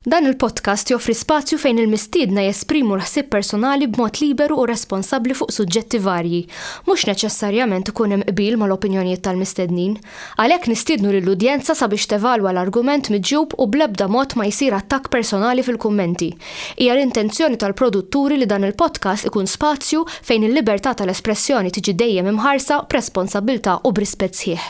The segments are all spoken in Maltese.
Dan il-podcast joffri spazju fejn il-mistiedna jesprimu l-ħsieb personali b'mod liberu u responsabbli fuq suġġetti varji. Mhux neċessarjament ikun hemm qbil mal-opinjonijiet tal-mistednin. Għalhekk nistiednu lill-udjenza sabiex tevalwa l-argument miġjub u bl-ebda mod ma jsir attakk personali fil-kummenti. Hija l-intenzjoni tal-produtturi li dan il-podcast ikun spazju fejn il-libertà tal-espressjoni tiġi dejjem imħarsa b'responsabbiltà u b'rispett sħiħ.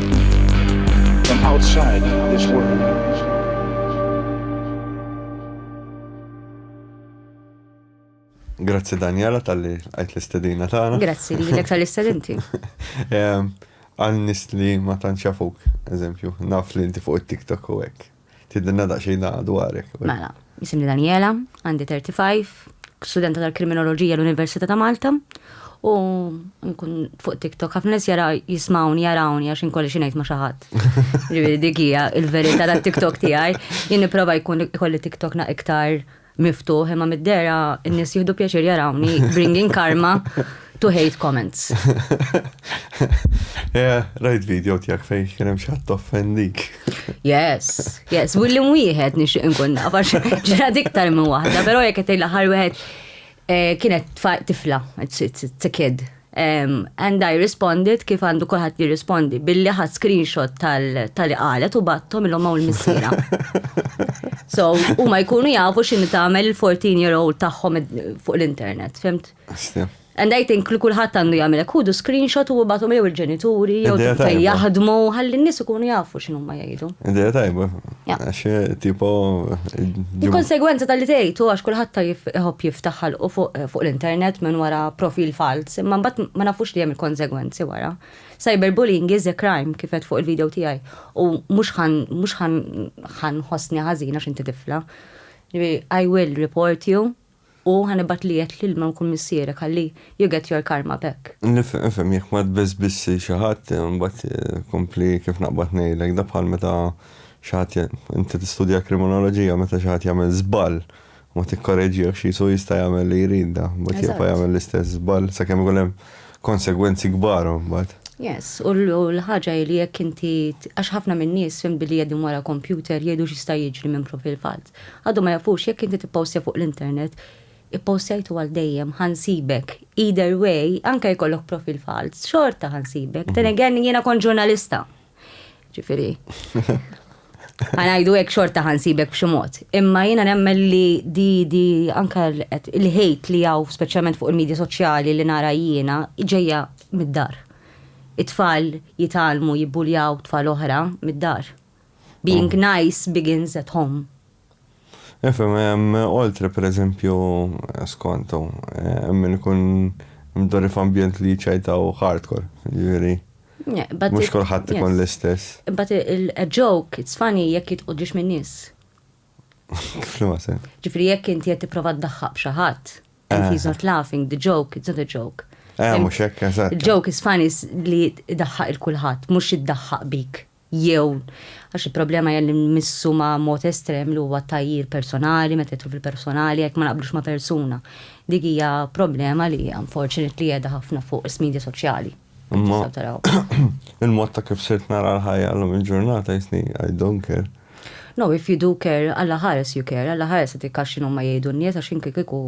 From outside this world. Grazzi Daniela tal-li għajt l-istedina tagħna. Grazzi li l tal-istedinti. Għal nis li ma tanċafuk, eżempju, naf li inti fuq it-TikTok u hekk. Tidinna daqsxejn da dwarek. Mela, jisimni Daniela, għandi 35, studenta tal-kriminoloġija l-Università ta' Malta, u nkun fuq TikTok ħafna nies jara jismawni jarawni għax inkolli xi ngħid ma' xi ħadd. Ġifieri dik hija l-verità tat-TikTok tiegħi. Jien nipprova jkun ikolli TikTok na iktar miftuħ imma mid-dera n-nies jieħdu pjaċir jarawni bringing karma to hate comments. Yeah, rajt video tijak fej kien hemm xi ħadd offendik. Yes, yes, willi wieħed nixtieq inkun naf għax ġrad iktar minn waħda, però jekk qed l-aħħar wieħed Eh, kienet tifla, it's, it's, it's a kid. Um, and I responded kif għandu kolħat jirrispondi billi ħad screenshot tal-li qalet u battom il maw il-missira. so, u ma jkunu jafu xin tagħmel il-14 year old tagħhom fuq l-internet, fimt? And I think li kulħadd għandu jagħmel hekk ħudu screenshot u bagħthom jew il-ġenituri jew jaħdmu ħalli n-nies ikunu jafu x'inhuma jgħidu. Idea tajba. Għax eh, tipo. Eh, Il-konsegwenza tal-li tgħid għax kulħadd ta' jħobb jiftaħ u fuq l-internet minn wara profil falz, imma mbagħad ma nafux li hemm il-konsegwenzi wara. Cyberbullying is a crime kif qed fuq il-video tiegħi u mhux ħan mhux ħan ħosni ħażina x'inti tifla. I will report you U ħa nibgħat liegħek l-ilma nkun missierek ħalli you get your karma back. Nifhem, nifhem, jekk ma tbesbissi xi ħadd, imbagħad kompli kif naqbad ngħidlek, da bħal meta xi ħadd, inti tistudja kriminoloġija, meta xi ħadd jagħmel żball u ma tikkoreġihx qisu jista' jagħmel li jrid da, imbagħad jibqa' jagħmel l-istess żball sakemm ikun hemm konsegwenzi kbar imbagħad. Yes, u l-ħaġa hi li jekk inti, għax ħafna min-nies fhimtni li qegħdin wara kompjuter jgħidu x'jista' jiġri minn profil falz. Għadhom ma jafux jekk inti tippostja fuq l-internet, ippostjajtu għal dejjem, ħa nsibek. Either way, anke jkollok profil falz, xorta ħa nsibek. Then again, jiena kont ġurnalista. Ġifieri. Ħa ngħidu hekk xorta ħa nsibek b'xi mod. Imma jiena nemmen li di di anke il-ħejt li hawn speċjalment fuq il-medja soċjali li nara jiena ġejja mid-dar. It-tfal jitgħallmu jibbuljaw tfal oħra mid-dar. Being nice begins at home. Nifhem, hemm oltre pereżempju, skont hu, hemm min ikun mdorri f'ambjent li jiċċajtaw hardcore, jiġifieri. Mhux kulħadd ikun l-istess. But a joke, it's funny jekk jitqogħdux min-nies. F'liema sens? Ġifieri jekk inti qed tipprova ddaħħaq b'xi ħadd, and he's not laughing, the joke, it's not a joke. Eh, mhux hekk, eżatt. Il-joke is funny li ddaħħaq il-kulħadd, mhux iddaħħaq bik. jew għax il-problema hija li nmissu ma' mod estrem li huwa t-tgħajjir personali, meta jidħlu fil-personali jekk ma naqblux ma' persuna. Dik hija problema li unfortunately qiegħda ħafna fuq is-media soċjali. Imma il-mod ta' kif sirt nara l-ħajja llum il-ġurnata jisni I don't care. No, if you do care, Alla ħares you care, Alla ħares dik għax x'inhuma jgħidu n-nies għax jien kieku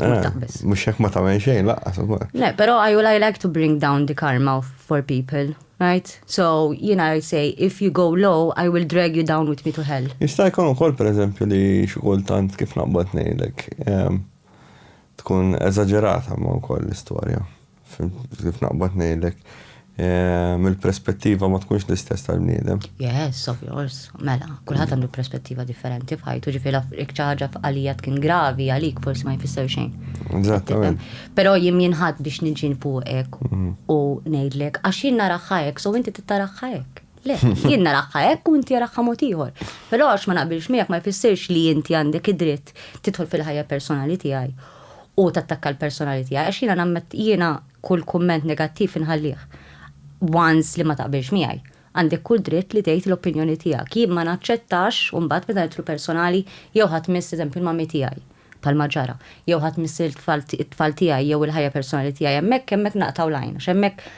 Eh, mux hekk ma tamen xejn, laqqas. Le, pero I will I like to bring down the karma for people, right? So, you know, I say, if you go low, I will drag you down with me to hell. Jista' jkun ukoll per eżempju li xikultant kif naqbad ngħidlek tkun eżaġerata ma wkoll l-istorja. Kif naqbad ngħidlek, mill-perspettiva ma tkunx l-istess tal-bniedem. Yes, of course. Mela, kulħadd għandu perspettiva differenti f'ħajtu, ġifieri ikċaġa f'għalija tkun gravi għalik forsi ma jfisser xejn. Eżattament. Però jien jinħadd biex niġi fuqek mhm. u ngħidlek għax jien naraħħa hekk, so inti tittaraħħa hekk. Le, jien naraħħa hekk u inti jaraħħa mod ieħor. Però għax ma naqbilx miegħek ma jfissirx li inti għandek id-dritt tidħol fil-ħajja personali tiegħi u tattakka l-personali tiegħi għax jiena nammet jiena kull kumment negattiv inħallih. Once li ma taqbilx miegħi. Għandek kull dritt li tgħid l-opinjoni tiegħek. Jien ma naċċettax u mbagħad meta nidħlu personali jew ħadd miss eżempju l-mami tiegħi palma ġara, jew ħadd miss it-tfal tiegħi jew il-ħajja personali tiegħi hemmhekk hemmhekk naqtaw lajn, għax hemmhekk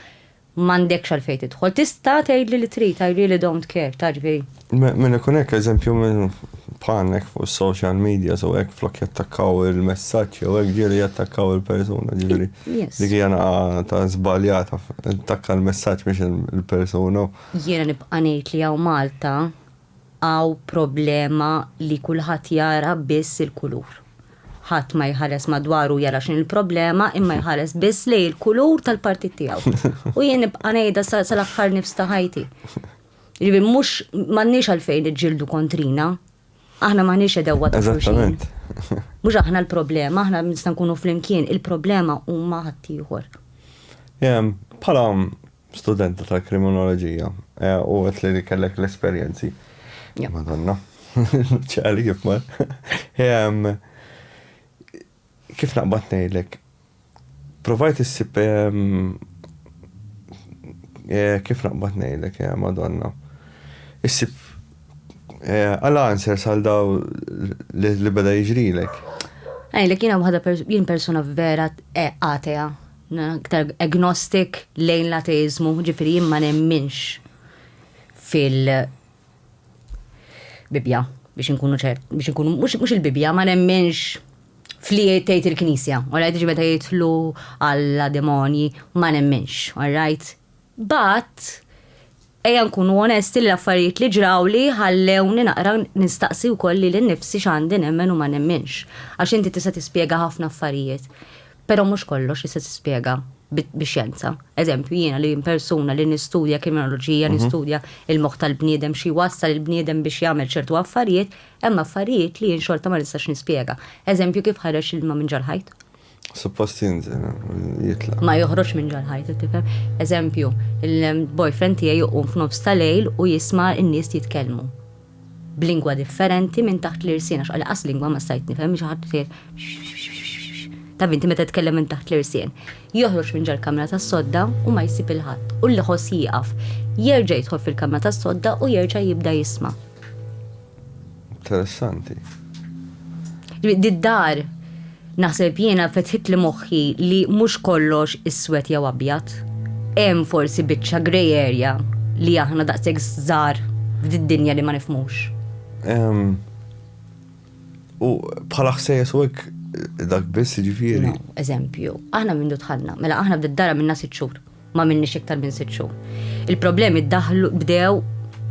M'għandekx għalfejn tidħol. Tista' tgħidli li trid, I really don't care, taf ġifieri. Minn ikun hekk eżempju minn bħalna hekk fuq is-social medias u hekk flok jattakkaw il-messaġġ jew hekk ġieli jattakkaw il-persuna, ġifieri dik hija naqa' ta' żbaljata, attakka l-messaġġ mhux il-persuna. Jiena nibqa' ngħid li hawn Malta Hawn problema li kulħadd jara biss il-kulur. Ħadd ma jħares madwaru jara x'inhi l-problema imma jħares biss lejn il-kulur tal-partit tiegħu. U jien nibqa' ngħidha sal-aħħar nifs ta' ħajti. Ġifieri mhux m'għandniex għalfejn niġġieldu kontrina. Aħna m'aħniex għedewwa ta' xulxin. Mhux aħna l-problema, aħna nista' nkunu flimkien, il-problema huma ħaddieħor. Bħala Studenta ta' kriminoloġija. Eh, u għet li kellek l-esperienzi. Madonna. ċali kif mar. Ehm, kif naqbat nejlek? Provajt issib ehm, eh, kif naqbat nejlek, eh, madonna. Issib eh, għala answer sal daw li beda jġrilek. Ej, li kiena waħda jien persona vera atea. Aktar agnostic lejn l-ateiżmu, ġifieri jien ma nemminx fil-Bibbja biex inkunu ċert, biex inkunu mhux il-Bibbja ma nemminx fli tgħid il-Knisja, all right, ġi meta jidħlu għal demonji ma nemminx, all right? Mbagħad, ejja nkunu onesti li l-affarijiet li ġrawli ħallewni naqra nistaqsi wkoll lili nnifsi x'għandi nemmen u ma nemminx. Għax inti tista' tispjega ħafna affarijiet, però mhux kollox tista' tispjega bix-xjenza. Eżempju, jiena li persuna li nistudja kriminoloġija, nistudja l-moħħ tal-bniedem, xi jwassal il-bniedem biex jagħmel ċertu affarijiet, hemm affarijiet li jien xorta ma nistax nispjega. Eżempju, kif ħareġ l-ilma minn ġol-ħajt? Suppost jinżel, jitla. Ma joħroġ minn ġal ħajtu tifhem. Eżempju, il-boyfriend tiegħi juqum f'nofs ta' lejl u jisma' n-nies jitkellmu. B'lingwa differenti minn taħt l-irsien għax qas lingwa ma stajt nifhem xi ħadd Taf inti meta tkellem minn taħt l-irsien. Joħroġ minn ġal-kamra tas-sodda u ma jsib il-ħadd u l-ħoss jieqaf. Jerġa' jidħol fil-kamra tas-sodda u jerġa' jibda jisma'. Interessanti. Did-dar naħseb jiena fetħit li moħħi li mhux kollox iswed jew abjad. Hemm forsi biċċa grey area li aħna daqshekk żgħar f'did-dinja li ma nifmux. U bħala ħsejjes u hekk dak biss ġifieri. Eżempju, aħna minn dutħanna, mela aħna bdiet dara minna sitt xhur. ma minnix iktar minn sitt xhur. Il-problemi daħlu bdew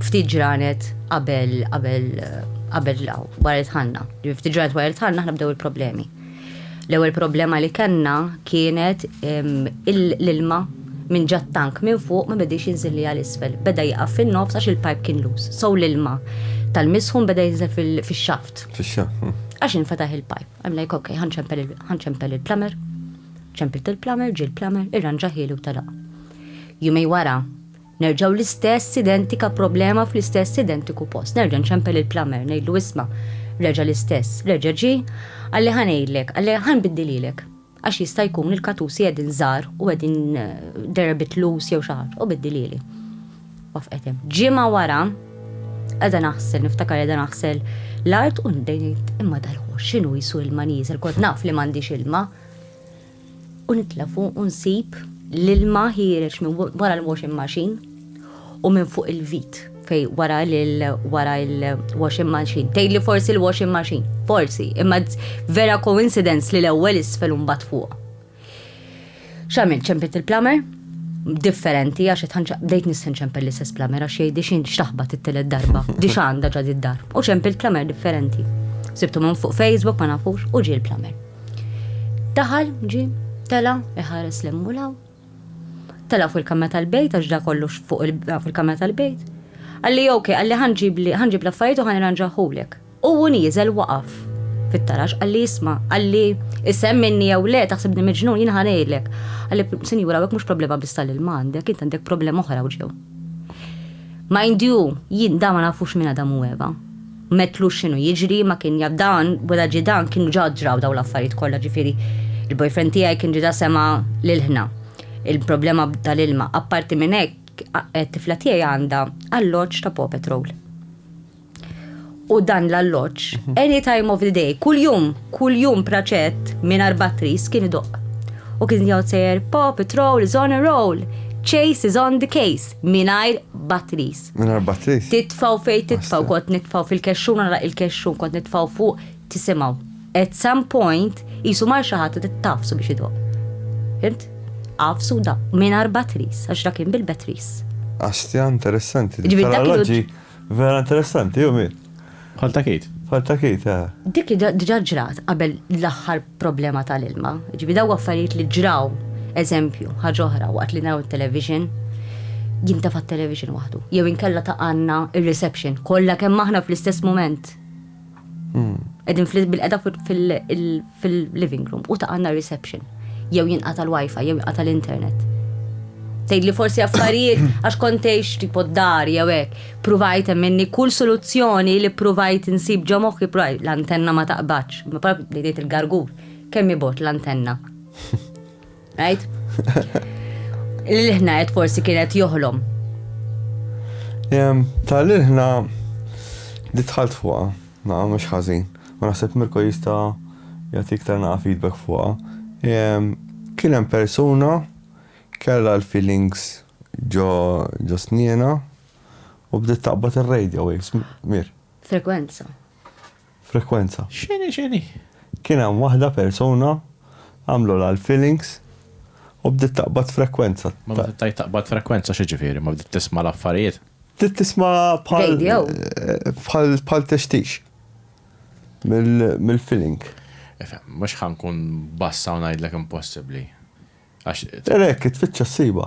ftit ġranet qabel qabel qabel law wara tħanna. Ftit ġranet wara tħanna aħna bdew il-problemi. L-ewwel problema li kellna kienet l-ilma minn ġat tank minn fuq ma bedix jinżilli għal isfel. Beda jaqaf fin-nofs għax il-pipe kien lus. Sow l-ilma tal-misħun beda jinżel fil-xaft. Fil-xaft. Hm. Għax infetaħ il-pipe. Għamlejk ok, ħanċempel il-plumber. Ċempiltu l-plumber, ġie l-plumber, irranġahieli u telaq. Jumejn wara, nerġgħu l-istess identika problema fl-istess identiku post. Nerġa' nċempel il-plumber, ngħidlu isma' reġa' l-istess, reġa' ġie, qalli ħa ngħidlek, qalli ħa nbiddilhielek. Għax jista' jkun il-katusi qegħdin żgħar u qegħdin they're a bit loose jew xi ħaġa, u biddilhieli. Waqfqet hemm. Ġimgħa wara, qiegħda naħsel, niftakar qiegħda naħsel l-art u nbdejt ngħid imma dal-ħoss x'inhu jisu ilma nieżel, kont naf li m'għandix ilma. u nitlafu u nsib l-ilma ħiereġ minn wara l-washing machine u minn fuq il-vit fej wara wara il-washing machine. Tejli forsi l-washing machine, forsi, imma vera coincidence li l-ewwel isfel u mbagħad fuq. X'għamil ċempet il-plumber? Differenti għax qed bdejt nissen ċempel l-istess plumber għax jgħidi x'in x'taħbat it-telet darba, di x'għandha ġad id-dar. U ċempel plumber differenti. Sibtu minn fuq Facebook ma nafux u ġie l-plumber. Daħal, ġie, tela' iħares l hemm u l hawn. Tela' fuq il-kamra tal-bejt għax da kollu fuq il-kamra tal-bejt. Għalli ok, għalli ħanġibli ħanġib l-affarijiet u ħanirranġahulek. U hu nieżel waqaf fit-taraġ qalli isma' qalli isem minni jew le taħsibni miġnun jien ħa ngħidlek. Qalli sinjura hawnhekk mhux problema biss tal-ilma għandek int għandek problema oħra u ġew. Mind you, jien da ma nafux minn Adam u Eva. M'għedtlux x'inhu jiġri, ma kien jaf dan, wara ġie dan kienu ġa ġraw dawn l-affarijiet kollha, ġifieri l-boyfriend tiegħi kien diġà sema' l-ilħna, il-problema tal-ilma. Apparti minn hekk, it-tifla tiegħi għandha alloġġ ta' Paw Patrol. U dan l-alloġġ, any time of the day, kuljum, kuljum praċett mingħajr batteries kien idoqq. U kien jgħod sejjer Paw Patrol is on a roll, Chase is on the case, mingħajr batteries. Minn arba trid. Titfaw fejn titfaw, kont nitfaw fil-kexxun nara il-kexxun kont nitfaw fuq tisimgħu. At some point qisu mar xi ħadd tafsu biex idoq. Fimt? Għafsu da, minn arba tris, għax da kien bil-betris. Astja, interessanti. Ġifieri dak il-loġi vera interessanti, jew mi? Bħal ta' Kate. Bħal ta' Kate, eh. Dik diġà ġrat qabel l-aħħar problema tal-ilma. Ġibi daw affarijiet li ġraw, eżempju, ħaġa oħra waqt li naraw it-television, jintefa' t-television waħdu. Jew inkella ta' għandna ir-reception kollha kemm aħna fl-istess mument. Hmm. Qegħdin bil-qeda fil-living room u ta' għanna reception. Jew jinqata l-wifi, jew jinqata l-internet. Tgħid li forsi affarijiet għax kontejx tipo dar jew hekk. Pruvajt minni kull soluzzjoni li pruvajt insib ġo moħħi pruvajt l-antenna ma taqbadx. Ma prab li ngħid il-gargur kemm ibot l-antenna. Right? L-ħna qed forsi kienet joħlom. Jem, ta' l-ħna li tħalt fuqa, na' mux ħazin. Ma naħseb Mirko jista' jagħti iktar naqa' feedback fuqa. Kien hemm persuna kella l-feelings ġo ġo snina u bdiet taqbad ir-radio waves mir. Frekwenza. Frekwenza. X'inhi x'inhi? Kien hemm waħda persuna għamlulha l-fillings u bdiet taqbad frekwenza. Ma meta tgħid taqbad frekwenza x'jiġifieri? Ma bdiet tisma' l-affarijiet? Bdiet tisma' bħal. Radio? Bħal bħal tixtix mill-filling. Ifhem, mhux ħa nkun bassa u ngħidlek impossibbli. Għax. Era hekk, tfittxa ssibha.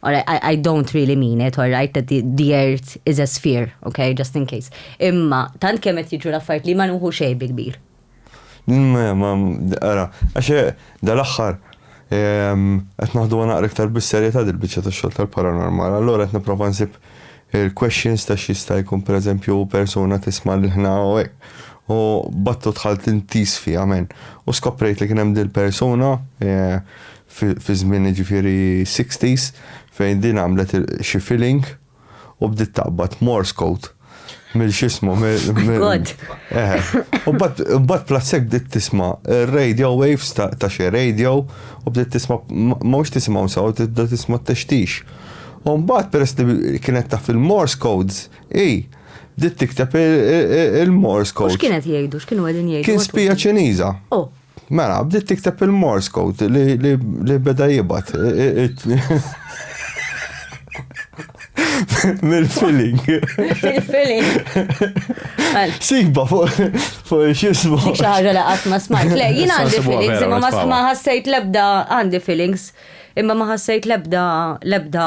Alright, I don't really mean it, alright, that the, the earth is a sphere, okay, just in case. Imma, tant kemm qed jiġu l-affarijiet li ma nuħu xejn bi kbir. Ma, ma, ara, għaxe, dal-axħar, qed naħdu naqra iktar bis-serjetà dil-biċċa tax-xogħol tal-paranormal. Allura qed nipprova nsib il-questions ta' xista jkun per eżempju persona tisma' l ħna u hekk. U battu tħalt intis fi għamen. U skoprejt li kien hemm dil-persuna e, fi żmien jiġifieri sixties fejn din għamlet xi filling u bdiet taqbad Morse code mill xismu mill. U mbagħad plassek bdiet tisma' radio waves ta' xi radio u bdiet tisma' mhux tisimgħu sew tibda tisma' t-textix. U mbagħad peress li kienet taf il-Morse codes hi bdiet tikteb il-Morse codes. X'kienet jgħidu? X'kienu qegħdin jgħidu? Kien spija Ċiniża. Mela, bdiet tikteb il-Morse code li beda jibgħat. Mill-filling. Mill-filling. Siba fuq xismu. Dik xaħġa li qatt ma smajt. Le, jien għandi feelings, imma ma sma ħassejt lebda għandi feelings, imma ma ħassejt lebda lebda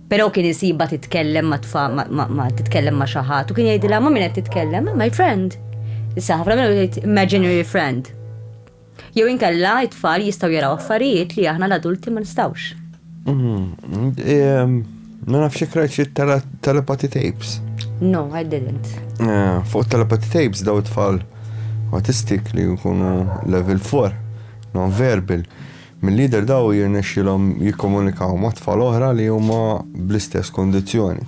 Però kien isibha titkellem ma' tfa ma' titkellem ma' xi ħadd u kien jgħidilha ma' min qed titkellem, ma' my friend. Issa ħafna minnhom jgħid imaginary friend. Jew inkella it-tfal jistgħu jaraw affarijiet li aħna l-adulti ma nistgħux. Mm-hmm. Ma nafx ikrajt xi telepathy tapes. No, I didn't. Eh, fuq telepathy tapes daw it-tfal autistic li jkunu level 4, non-verbal. Milli jidher dawn jirnexxielhom jikkomunikaw ma' tfal oħra li huma bl-istess kundizzjoni.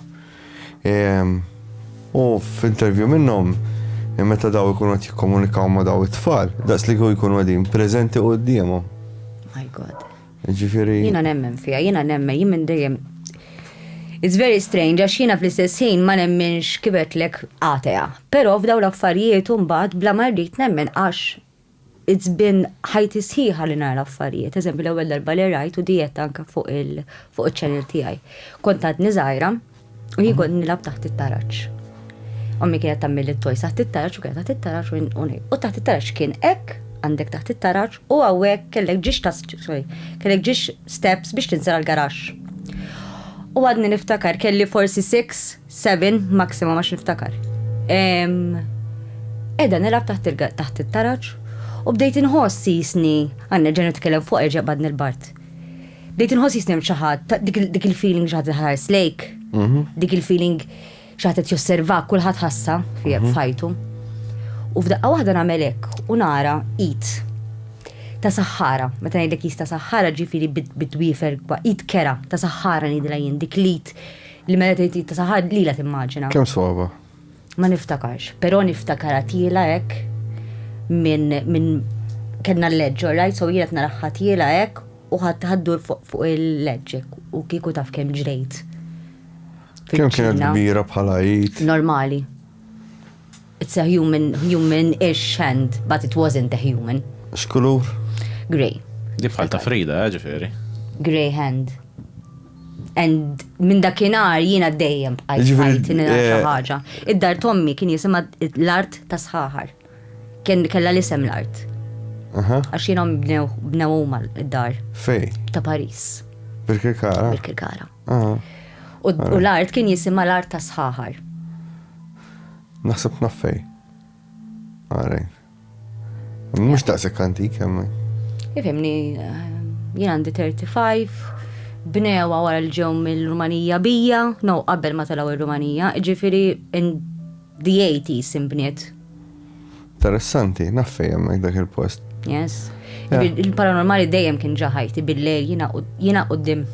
U f'intervju minnhom, meta daw ikunu qed jikkomunikaw ma' daw it-tfal, daqs li kieku jkunu qegħdin preżenti quddiemhom. My God. Ġifieri. Jiena nemmen fiha, jiena nemmen, jien minn dejjem It's very strange, għax jiena fl-istess ħin ma nemminx kibet lek atea. Però f'daw l-affarijiet mbagħad bla ma rrid nemmen għax It's been ħajti sħiħa li nara affarijiet. Eżempju l-ewwel darba li rajt u dijet anke fuq iċ-channel tiegħi. Kont għadni żgħira u jien kont nilgħab taħt it-taraġ. Ommi kienet tagħmilli t-toys taħt it-taraġ u kienet taħt it-taraġ u u taħt it-taraġ kien hekk għandek taħt it-taraġ u hawnhekk kellek ġiex ta' sorry, kellek ġiex steps biex tinżel għall-garaxx. U għadni niftakar kelli forsi six 7 maximum għax niftakar. Edha nilab taħt it-taraġ u bdejt inħoss jisni għanna ġenu tkellem fuq erġa' badni l-bart. Bdejt inħoss jisni ċaħat dik il-feeling ġaħat ħares lejk, mhm. dik il-feeling ċaħat josserva kulħadd ħassa mhm. fajtu. U f'daqqa waħda nagħmel hekk u nara it ta' saħħara, meta ngħidlek jista' saħħara ġifieri bid-dwifer it kera ta' saħħara ngħidilha jien dik lit Li mela tgħid ta' saħad lila timmaġina. Kemm sogħba? Ma niftakarx, però niftakar għatila hekk minn min kellna l-leġġ, right? So jienet nara ħatila hekk u ħaddur fuq il-leġġek u kieku taf kemm ġrejt. Kemm kienet kbira bħala jid? Normali. It's a human, human-ish hand, but it wasn't a human. X'kulur? Grey. Di bħal ta' Frida, eh, ġifieri. Grey hand. And minn dakinhar jiena dejjem bqajt Ġifieri, bqajt nilgħab xi eh, ħaġa. Id-dar tommi kien jisimha l-art ta' sħaħar. Kien kellha l-isem l-art. Aha. Għax jiena bnew bnew huma d-dar Fej? ta' Paris, Birkirkara? bil-Kirkara. Aha. U u l-art kien jisimha l-art ta' sħaħar. Naħseb naf fej. Għarej. Mux daqsek antik jemmi. Ifimni, jien għandi 35, bnewa wara l-ġew mill-Rumanija bija, no qabel ma talaw il-Rumanija, ġifiri in the 80s imbniet. Interessanti, naf fejn hemmhekk dak il-post. Yes. Yeah. Il- Il-paranormali dejjem kien ġa ħajti bil-lejl jiena qud- jiena qudiem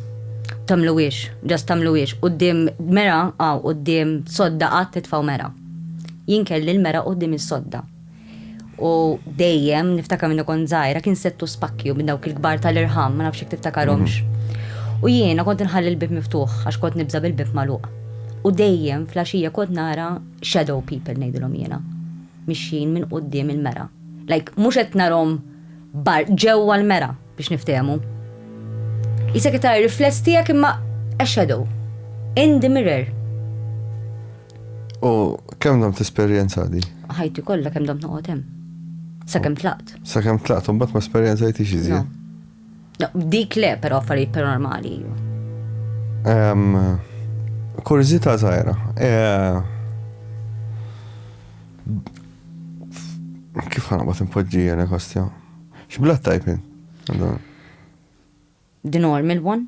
tamluwiex, ġast tamluwiex, qudiem mera, għaw, qudiem sodda qatt titfaw mera. Jien kelli l-mera qudiem is-sodda. U dejjem niftakar minn kont żgħira kien settu spakkju minn dawk il-kbar tal-irħam, ma nafx jekk tiftakarhomx. U jiena kont nħalli l-bib miftuħ għax kont nibża bil-bib magħluq. U dejjem flaxija kont nara shadow people ngħidilhom jiena. Mixjin minn quddiem il-mera. Like mhux qed narhom bar ġewwa l-mera biex niftehmu. Qisek qed tara r-rifless tiegħek imma a shadow. In the mirror. U kemm dom tesperjenza di? Ħajti kollha kemm dom noqgħod hemm. Sakemm tlaqt. Sakemm tlaqt u mbagħad ma esperjenzajtix iżjed. Dik le, però affarijiet paranormali. Kurzita zaħira. Eh, kif ħana bat impoġġija nekostja? Xblat tajpin? The normal one?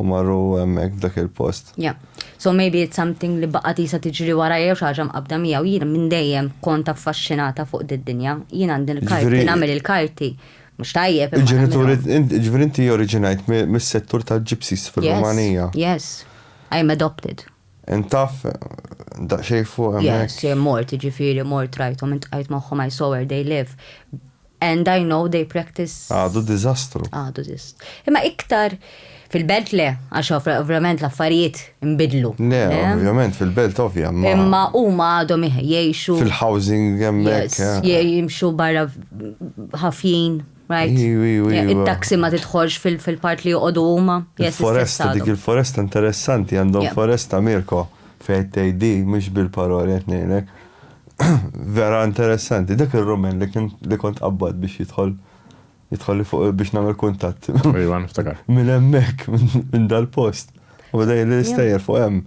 U marru hemmhekk f'dak il-post. Yeah. So maybe it's something li baqgħet qisha tiġri warajja jew xi ħaġa mqabbda miegħu. Jiena minn dejjem kont affaxxinata fuq did-dinja. Jien għandi l-karti, Ġifieri- nagħmel il-karti. Mhux tajjeb imma Il-ġenituri, nagħmilhom. int- ġifieri inti oriġinajt mi- mis-settur tal-gypsies fir-Rumanija. Yes, yes. I am adopted. Int taf daqsxejn fuq hemmhekk? Yes, mort, jiġifieri mort rajthom, iltqajt magħhom, I saw where they live. And I know they practice. Għadu diżastru. Għadu dis. Imma iktar fil-belt le, għax ovra- ovvjament l-affarijiet nbidlu. Le, ovvjament, fil-belt ovvja, ma Imma huma għadhom iħ- jgħixu. fil-housing hemmhekk. Yes, eh. jie- jimxu barra ħafjin, right? Iwa, iwa, iwa. Il-taxi ma tidħolx fil- fil-part li joqogħdu huma. Yes, Il-foresta, istess dik għadhom. il-foresta interessanti, għandhom Yeah. foresta Mirko fejn tgħidi, mhux bil-paroli qed ngħidlek. Vera interessanti, dak il-rumen li kien li kont qabbad biex jidħol jidħol li fuq biex nagħmel kuntatt. Iva, niftakar. Minn hemmhekk, minn dal-post. U bada li l-istajjer fuq hemm.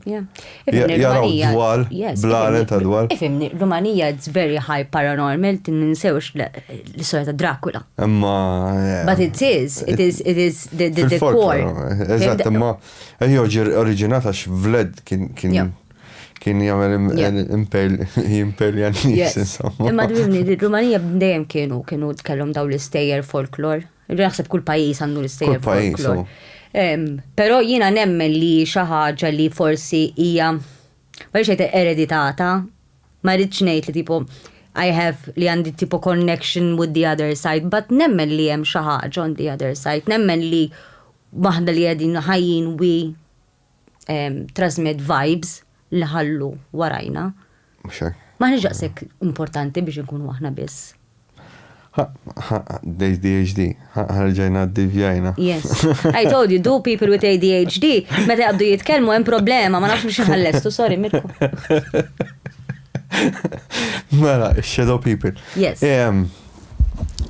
Jaraw dwal, blalen ta' dwal. Ifimni, Rumanija it's very high paranormal, tinsewx l-istoria ta' Dracula. Imma. Eh, But it is, it is, it is the, the, the core. Eżatt, imma, eh, joġi oriġinata x'vled kien, kien, kien jagħmel imperja n-nies insomma. Imma dwimni li Rumanija dejjem kienu kienu tkellhom daw l-istejjer folklor. Naħseb kull pajjiż għandu l-istejjer folklor. Però jiena nemmen li xi ħaġa li forsi hija ma rridx ngħid ereditata, ma rridx ngħid li tipo I have li għandi tipo connection with the other side, but nemmen li hemm xi ħaġa on the other side, nemmen li waħda li qegħdin ħajjin we trasmett vibes li ħallu warajna. Ma ħniex daqshekk importanti biex inkunu aħna biss. ADHD, ħarġajna d-divjajna. Yes. I told you, do people with ADHD, meta jabdu jitkellmu hemm problema, ma nafx biex ħallestu, sorry, Mirko. Mela, shadow people. Yes.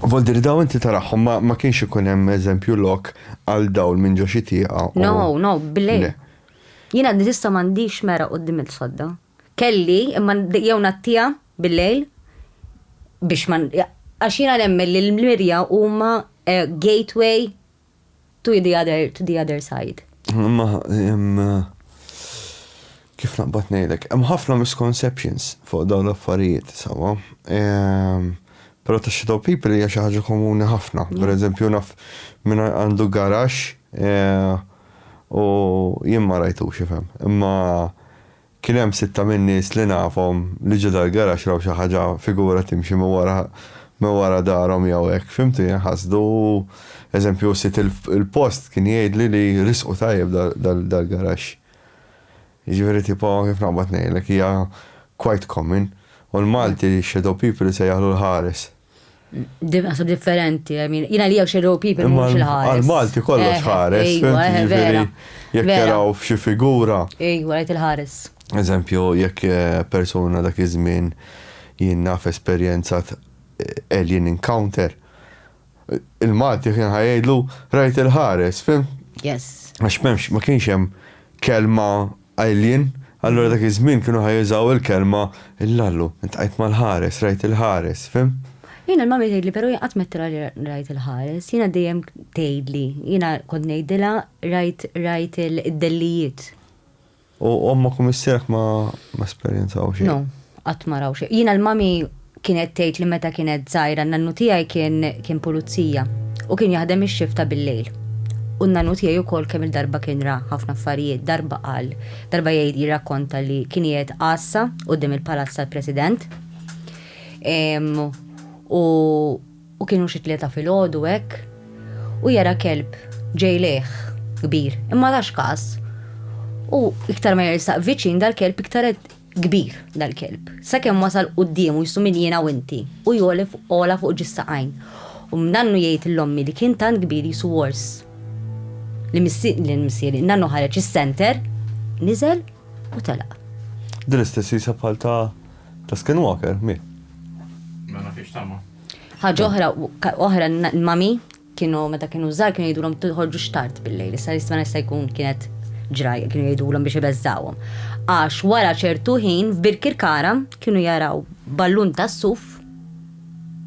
Voldir daw inti taraħħom ma, ma kienx ikun hemm eżempju lok għal dawl minn ġo xi tieqa. u- No, no, billi. Le. Jiena nista m'għandix mera qudiem il-sodda. Kelli, imma n- jew ngħattija bil-lejl biex ma n- għax jiena nemmen li l-mirja huma eh, gateway To the other, to the other side. Imma, hemm, kif naqbad ngħidlek, hemm ħafna misconceptions fuq dawn l-affarijiet, sewwa. Però ta' shadow people hija xi ħaġa komuni ħafna. Per eżempju, naf minn għandu garax u jien ma rajtux ifhem. Imma Kien hemm sitta min-nies li nafhom li ġo dal-garaxx raw xi ħaġa, figura timxi minn wara minn wara darhom jew hekk, fimtu, jien ħasdu, eżempju, u sid il-post kien jgħidli li risqu tajjeb dal-garaxx. Jiġifieri tipo kif naqbad ngħidlek hija quite common u l-Malti shadow people isejjaħlu l-ħares. Dimqasu differenti, jina li jew xerru pipi mux il-ħares. Għal-Malti kollox eh, ħares, eh, eh, vera. Jek jaraw f'xi figura. Ejwa, għajt il-ħares. Eżempju, jekk persona dak iż-żmien jien naf esperjenza alien encounter, il-Malti kien ħajgħidlu rajt il-ħares, fim? Yes. Għax memx, ma kienx hemm kelma Qajlin, allura dak iż-żmien kienu ħa jużaw il-kelma il-lallu, iltqajt mal-ħares, rajt il-ħares, fhimt? Jiena l-mami tgħidli però jien qatt m'għedtilha li rajt il-ħares, jiena dejjem tgħidli, jiena kont ngħidilha rajt rajt id-dellijiet. U ommok u missierek ma esperjenzaw xejn? No, qatt ma raw xejn. Jiena l-mami. Kienet tgħid li meta kienet żgħira n-nannu tiegħi kien kien pulizija u kien jaħdem ix-xift ta' billejl. U n-nannu tiegħi wkoll kemm-il darba kien ra ħafna affarijiet, darba qal, darba jgħid jirrakkonta li kien qiegħed għassa quddiem il-palazz tal-President u u kienu xi tlieta filgħodu hekk u jara kelb ġej lejh kbir imma tax każ u iktar ma jersaq viċin dal-kelb iktar qed Kbir, dal-kelb. Sakemm wasal quddiem u jsumini jiena u inti, u jgħoli fuq għola fuq ġis saqajn. U n-nannu jgħid lill-ommi li kien tant kbir qisu wors. Li missieri, li missieri, n-nannu ħareġ is-senter, niżel u telaq. Din l-istess risa bħal ta' ta' Skinwalker, mi? Ma nagħtix tama. Ħaġa oħra, oħra, mami. Kienu meta kienu żgħar kienu jgħidulhom ma toħorġux tard bil-lejl, issa jistma' jista' jkun kienet ġrajja, kienu jgħidulhom biex ibeżżgħuhom. Għax wara ċertu ħin f'Birkirkara kienu jaraw ballun tas-suf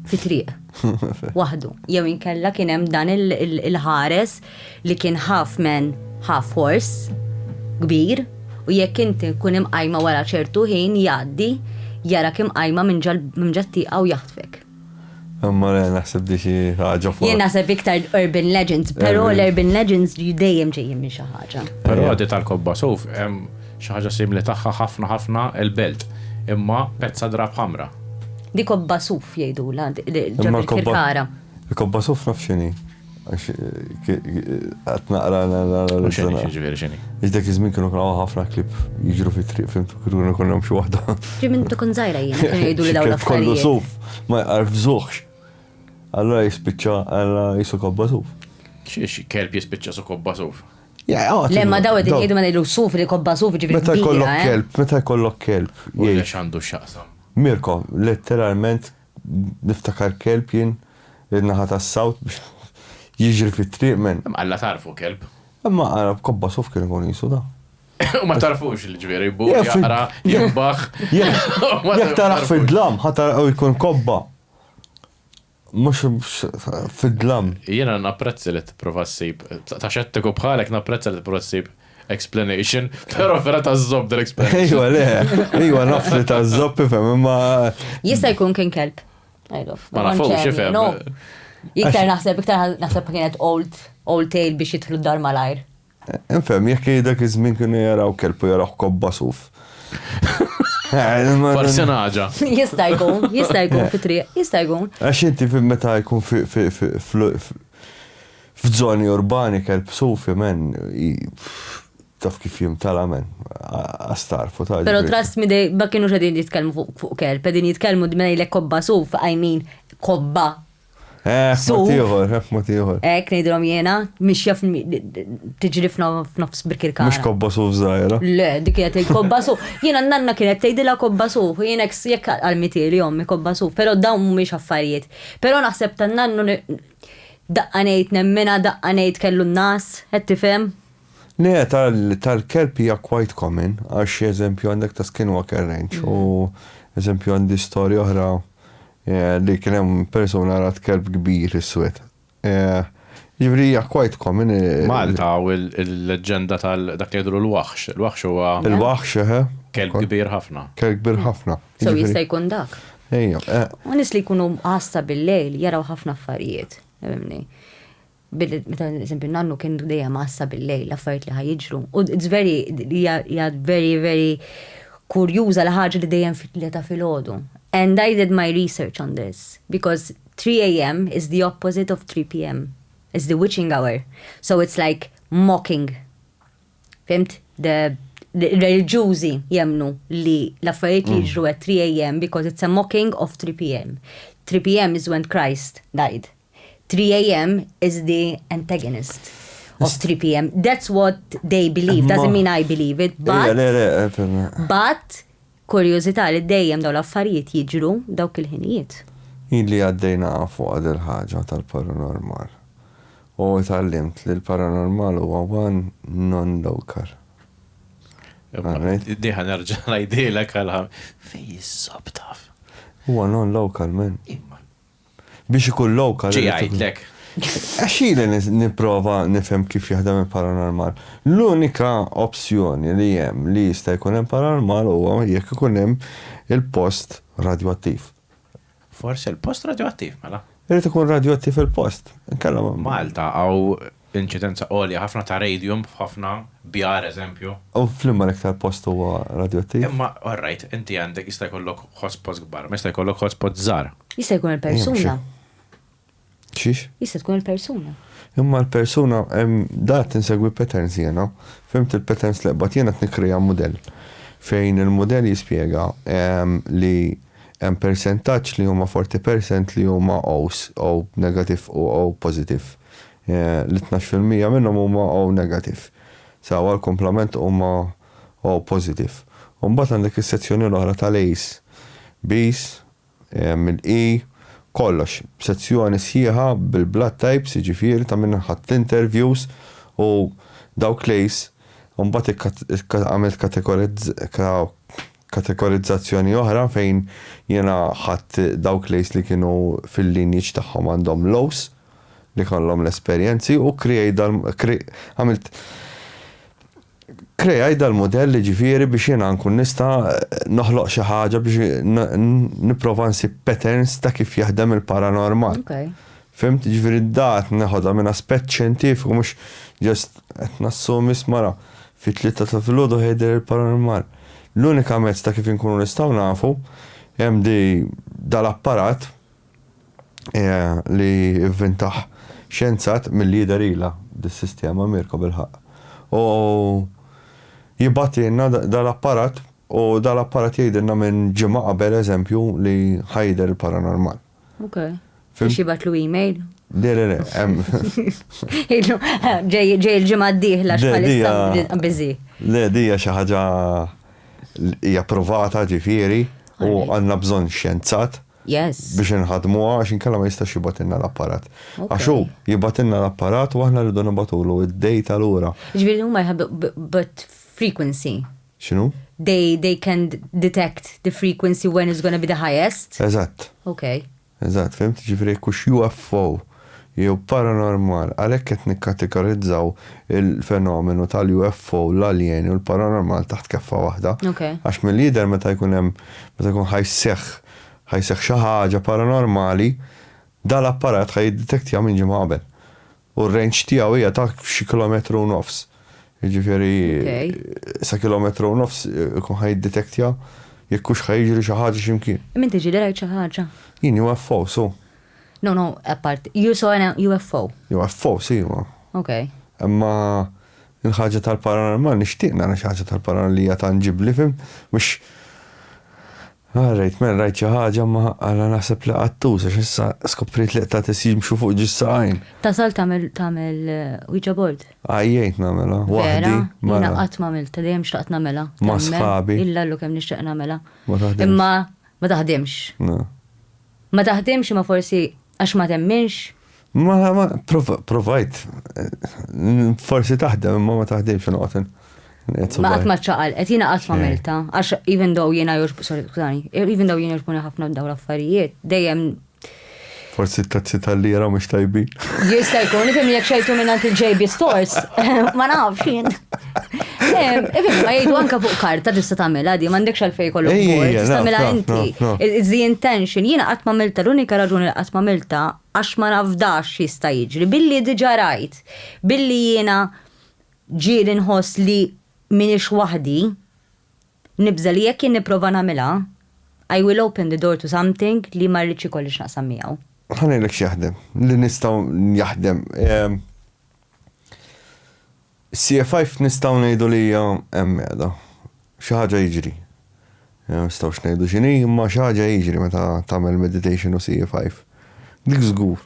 fi triq, waħdu, jew inkella kien hemm dan il-ħares li kien half man, half horse, kbir, u jekk inti tkun imqajma wara ċertu ħin jgħaddi, jarak imqajma minn ġa t-tieqa u jaħtfek. Imma le naħseb di xi ħaġa fuq. Jien naħseb iktar urban legends, però l-urban legends dejjem ġejjin minn xi ħaġa. Però di tal-kobba suf hemm xi ħaġa simli tagħha ħafna ħafna l-belt, imma pezza drab ħamra. Di kobba suf jgħidulha ġo Birkirkara. Il-kobba suf naf x'inhi. Għat naqra l-analizza. Xini, xini, xini. Iġdek izmin kienu kienu ħafna klip jġru fi triq, fimtu, kienu kienu xie wahda. Ġi minn tu kun zaħira jina, kienu jgħidu li daw l Kollu suf, ma jgħarf zuħx. Allora jispicċa, għalla jisu kobba suf. Xiex, kelb jispicċa su kobba suf. Lemma daw id jgħidu ma jgħidu suf li kobba suf ġibri. Meta jkollok eh? kelb, meta jkollok kelb. Jgħidu xandu xaqsam. Mirko, letteralment Niftakar kelb jien in-naħa tas-south biex jiġri fit-triq men. Imma alla tagħrfu kelb. Imma ara b'kobba suf kien ikun qisu da. U ma tagħrfux l-ġviri jbul, jaqra, jimbaħ. Jekk tarah fid-dlam ħa tarah u jkun kobba. Mhux fid-dlam. Jiena napprezzi li tipprova ssib, ta' xettiku bħalek napprezza li tipprova ssib explanation, pero vera ta' zob dal explanation. Ejwa, le, ejwa naf li ta' zob ifem, imma. Jista' jkun kien kelb. Ma nafux, ifem. Iktar naħseb, iktar naħseb kienet old, old tale biex jitħlu dar malajr. Infem, jekk dak iż-żmien kienu jaraw kelb u jaraw kobba suf. Forse naġa. Jista' jkun, jista' jkun fi triq, jista' jkun. Għax inti meta jkun fi F'zoni urbani kelb sufi men i taf kif jimtala men qas tagħrfu ta' Pero trust me they ma kienux qegħdin jitkellmu fuq fuq kelb qegħdin jitkellmu d ngħidlek kobba suf I mean kobba Eħ suf mod ieħor eħ mod ieħor. Hekk ngħidilhom jiena mixja f tiġri f f'nofs Birkirkara. Mhux kobba suf żgħira. Le dik qed tgħid kobba suf. Jiena n-nanna kienet tgħidilha kobba suf u jien hekk jekk għalmitieli ommi kobba suf pero dawn mhumiex affarijiet. Pero naħseb tan-nannu Daqqa ngħid nemminha daqqa ngħid kellu n-nas, qed tifhem? Le, tal-kelb hija quite common għax eżempju għandek ta' skinwalker ranch u eżempju għandi storja oħra li kien hemm persuna rat kelb kbir iswed. Jiġifieri hija quite common. Malta u l-leġġenda tal-dak li jidhru l-waħx. Il-waħx huwa. Il-waħx, eħe. Kelb kbir ħafna. Kelb kbir ħafna. So jista' jkun dak. Ejja. Eh. U nis li jkunu għasta bil-lejl jaraw ħafna affarijiet. Meta eżempju nannu kien dejjem għasta bil-lejl l-affarijiet li ħajġru. U it's very, jgħad very, very kurjuża li ħaġa li dejjem fit-tlieta fil-ħodu. And I did my research on this because 3 a.m. is the opposite of 3 p.m. It's the witching hour. So it's like mocking Fhimt? Ir-reliġjużi jemmnu li l-affarijiet li jiġru at 3 AM because it's a mocking of 3 PM. 3 PM is when Christ died. 3 AM is the antagonist of 3 PM. That's what they believe. Doesn't mean I believe it, but. But. Kurjużità li dejjem dawn l-affarijiet jiġru dawk il-ħinijiet. Hi li għaddej naqa' fuqha dil-ħaġa tal-paranormal. U tgħallimt li l-paranormal huwa one non local. Di ħa nerġa' ngħidilek għal. Fejn iżżobb taf. Huwa non local man. Biex ikun lokal. Ġi għidlek. Għaxili niprofa nifhem kif jaħdem il-paranormal. L-unika opzjoni li hemm li jista' jkun hemm paranormal huwa jekk ikun hemm il-post radioattiv. Forse il-post radioattiv, mela. Irid ikun radioattiv il-post. Malta għaw Inċidenza għolja ħafna ta' radium f'ħafna bjar eżempju. U f'liema l-iktar post huwa radjoattiv? Imma all right, inti għandek jista' jkollok hotspots kbar, imma jista' jkollok hotspots żgħar. Jista' jkun il-persuna. Xiex? Jista' tkun il-persuna. Imma l-persuna, da qed insegwi patterns jiena. Fhimt il-patterns li qbadt jiena qed nikkrea mudell. Fejn il-mudell jispjega li hemm persentaġġ li huma 40% li huma O's, O negativ u O pożitiv. li tnax fil-mija minnhom huma O negative. Sewwa l-kumplament huma O positive. U mbagħad għandek is-sezzjoni l-oħra tal-A's, B's, mill-E, kollox. Sezzjoni sħiħa bil-blood types, jiġifieri ta' min ħadt l-interviews u dawk l-A's u mbagħad għamilt kategorizzazzjoni oħra fejn jiena ħadt dawk l-A's li kienu fil-lineage tagħhom għandhom l-O's. li jkollhom l-esperjenzi u kreaj dal għamilt kreaj dal-mudell jiġifieri biex jiena nkun nista' noħloq xi ħaġa biex nipprova nsib patterns ta' kif jaħdem il-paranormal. Okay. Fimt, ġifieri dat neħodha minn aspett xjentifiku mhux ġest qed nassumi smara fit tlieta ta' filgħodu ħejder il-paranormal. L-unika mezz ta' kif inkunu nistgħu nafu hemm di dal-apparat li vvintaħ xjenzat milli jidher ilha dis-sistema Mirko bilħaqq. U jibgħatilna dal-apparat u dal-apparat jgħidilna minn ġimgħa qabel eżempju li ħa jidher il-paranormal. Ok. Biex jibgħatlu email? Le, le, le. Ġej il-ġimgħa d-dieħla x'bħalissa biżi. Le, dija xi ħaġa hija provata ġifieri u għandna bżonn xjenzat. Yes. Biex inħaddmuha għax inkella ma jistax jibgħatilna l-apparat. Għax hu jibgħatilna l-apparat u aħna rridu nibgħatulu d-data lura. Jiġifieri huma jħaddu but frequency. X'inhu? They, they can detect the frequency when it's gonna be the highest. Eżatt. Okay. Eżatt, fimt? Jiġifieri jekk hux UFO. jew paranormal, għalhekk qed nikkategorizzaw il-fenomenu tal-UFO, l-aljeni u l-paranormal taħt keffa waħda. Għax milli jidher meta jkun hemm, meta jkun ħa jseħħ, ħa jseħħ xi ħaġa paranormali, dan l-apparat ħa jiddetektja minn ġimgħa qabel. U r-range tiegħu hija ta' xi kilometru u nofs. Jiġifieri sa kilometru u nofs ikun ħa jiddetektja jekk hux ħa jiġri xi ħaġa x'imkien. Imma inti ġieli rajt xi ħaġa? Jien UFO, so. No, no, apart, you saw an UFO. UFO, si, ma. Ok. Imma il-ħaġa tal-paranormal nixtieq nara xi ħaġa tal-paranormal li hija tanġibli fim, mhux ah, rajt men rajt xi ħaġa ma għala naħseb li qattuż għax issa skoprit li qta' tisimxu fuq ġissa għajn. Tasal tagħmel tagħmel uh, Ouija board. Għajjejt nagħmela, waħdi. Vera, jiena qatt ma għamilta, dejjem xtaqt nagħmela. Ma' sħabi. Illa llu kemm nixtieq nagħmela. Ma taħdimx. Imma ma taħdimx. Ma taħdimx imma forsi għax ma temminx? Ma ma provajt forsi taħdem imma ma taħdimx inqotin. Ma qatt ma ċaqalqet, jiena qatt ma melta, għax even though jiena jorġbu, sorry, skużani, even though jiena jorġbuni ħafna dawn l-affarijiet, dejjem Forsi t-tazzi tal-lira mux tajbi. Jista jkun, li fimni jek xejtu minnant il-JB Stores, ma nafx jien. Ibin, ma jgħidu anka fuq karta tista' tagħmilha di, m'għandekx għalfejn kollu bord, tista' tagħmilha inti. It's the intention. Jiena qatt ma milta, l-unika raġuni li qatt ma milta għax ma nafdax jista' jiġri. Billi diġà rajt, billi jiena ġieli nħoss li minix waħdi, nibża' li jekk jien nipprova nagħmilha, I will open the door to something li ma rridx ikolli x'naqsam miegħu. Ħa ngħidlek x'jaħdem, li nistgħu jaħdem. Is-CFIF nistgħu ngħidu li hija hemm qiegħda. Xi ħaġa jiġri. Ma nistgħux ngħidu x'inhi, imma xi ħaġa jiġri meta tagħmel meditation u CFIF. Dik żgur.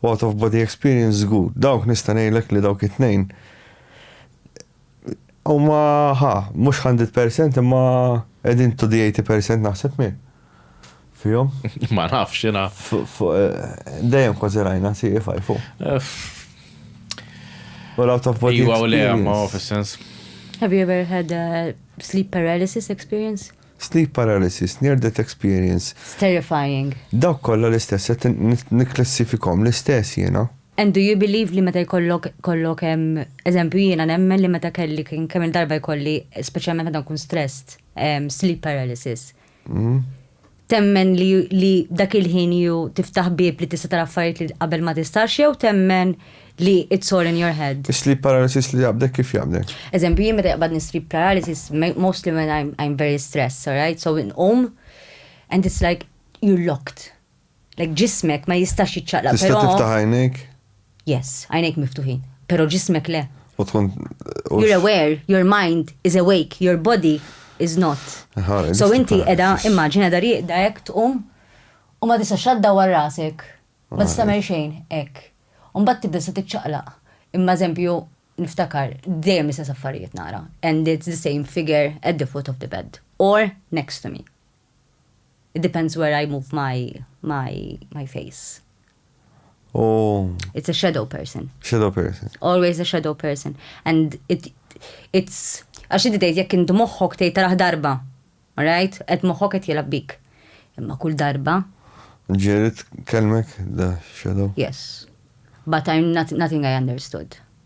U out of body experience żgur. Dawk nista' ngħidlek li dawk it-tnejn huma ħa, mhux hundred percent imma qegħdin to the eighty percent naħseb minn. fihom. Ma nafx jiena. Dejjem kważi rajna CFI fuq. U l-out of body. Iwa u le, ma fis-sens. Have you ever had a sleep paralysis experience? Sleep paralysis, near death experience. It's terrifying. Dawk kollha l-istess, nikklassifikhom l-istess jiena. And do you believe li meta jkollok kollok hemm, eżempju jiena nemmen li meta kelli kemm-il darba jkolli, speċjalment meta nkun stressed, sleep paralysis. Hmm? Temmen li, li dak il-ħin ju tiftaħ bib li tista' tara affarijiet li qabel ma tistax jew temmen li it's all in your head? Sleep paralysis li jaqbdek kif jaqbdek? Eżempju, jien meta jaqbadni sleep paralysis, mostly when I'm, I'm very stressed, alright? So nqum and it's like you're locked. Like ġismek ma jistax jiċċaqlaq. Tista' però- tiftaħ għajnejk? Yes, għajnejk miftuħin. Pero ġismek le. U tkun. u- You're aware, your mind is awake, your body is not. Aha, So nista' inti nifhem. edha, immaġina edha rieqda hekk tqum u ma tistax la ddawwar rasek. Ma tista' tagħmel xejn hekk. U mbagħad tibda se tiċċaqlaq. Imma eżempju niftakar dejjem l-istess affarijiet nara and it's the same figure at the foot of the bed or next to me. It depends where I move my my my face. Oh. It's a shadow person. Shadow person. Always a shadow person. And it it's għax inti tgħid jekk int moħħok tgħid taraħ darba. Right? Qed moħħok qed jilgħab bik. Imma kull darba. Ġerit kelmek da shadow? Yes. But I'm not, nothing I understood.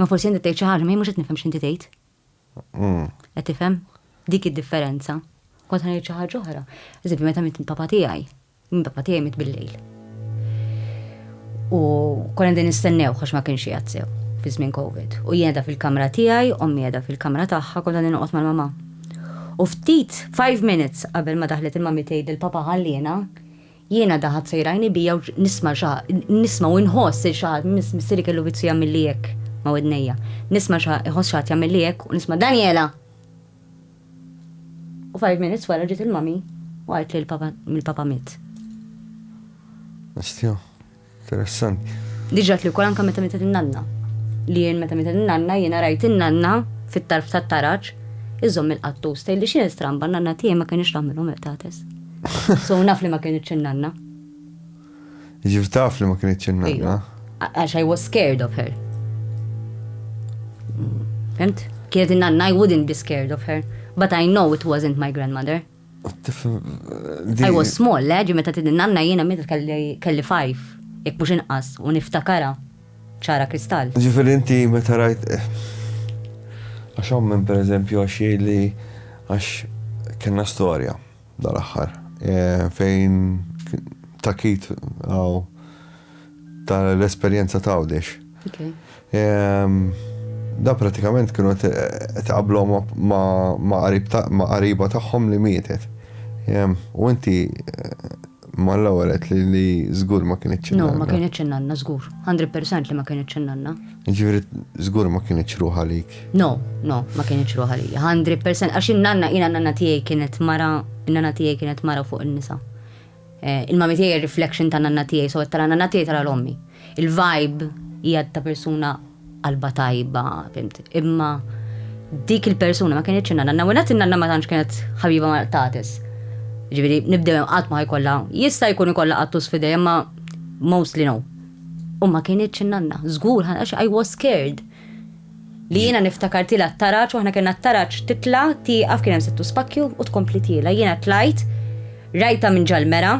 Ma forsi inti tgħid xi ħaġa, ma mhux qed nifhem x'inti tgħid. Mm. Qed tifhem? Dik id-differenza. Kont ħanejt xi ħaġa oħra. Eżempju, meta mit papa tiegħi, min papa tiegħi mit bil-lejl. U konna din nistennew għax ma kienx jgħid sew fi żmien Covid. U jiena fil-kamra tiegħi, ommi qiegħda fil-kamra tagħha konna din noqgħod mal-mama. U ftit 5 minutes qabel ma daħlet il-mami tgħid il-papa ħalliena, Jiena daħat sejrajni bija u nisma' xa, nisma' u nħoss il xa, missieri kellu vizju jagħmilli hekk ma' widnejja. Nisma' xa, iħoss xaħat jagħmilli hekk u nisma' Daniela! U five minutes wara ġiet il-mommy u għajt li l-papa, mill-papa miet. Nistgħu. Interessanti. Diġa li wkoll anke meta mietet in-nanna. Li jien meta mietet in-nanna jiena rajt in-nanna fit-tarf tat-taraġ iżomm il-qattus tgħidli xi stramba n-nanna tiegħi ma kienx tagħmilhom il-qtates. So naf li ma kienitx in-nanna. Ġif taf li ma kienitx in-nanna. Għax I was scared of her. Fimt? Kienet in-nanna I wouldn't be scared of her. But I know it wasn't my grandmother. I was small, le, ġi meta tidin nanna jiena meta kelli fajf, jek mux inqas, u niftakara, ċara kristall. Ġifiri inti meta rajt. Għax ommen per eżempju għax li għax kena storja dal-axħar fejn takit għaw ta' l-esperjenza ta' Għawdex. Da pratikament kienu qed iqablhom ma' qariba tagħhom li mietet. U inti mal-ewwel għedt li żgur ma kinitx in-nanna. No, ma kinitx in-nanna żgur. 100% li ma kinitx in-nanna. Jiġifieri żgur ma kinitx ruħ għalik. No, no, ma kinitx ruħ għalija. 100% għax in-nanna, jiena n-nanna tiegħi kienet mara, in-nanna tiegħi kienet mara fuq in-nisa. Il-mami tiegħi hija reflection ta' nanna tiegħi, so qed tara nanna tiegħi tara 'l ommi. Il-vibe hija ta' persuna qalbha tajba, fimt. Imma dik il-persuna ma kienitx in-nanna. Nanna wienet in-nanna ma tantx kienet ħabiba mal-qtates. Ġifieri nibdew hemm qatt ma ħajkollha, jista' jkun ikollha qattus f'idejha imma mostly no. U ma kienitx in-nanna. Żgur, għax I was scared. Li jiena niftakar tiela' t-taraġ u aħna kellna t-taraġ titla' tieqaf kien hemm settu spakkju u tkompli tiela'. Jiena tlajt, rajtha minn ġal-mera,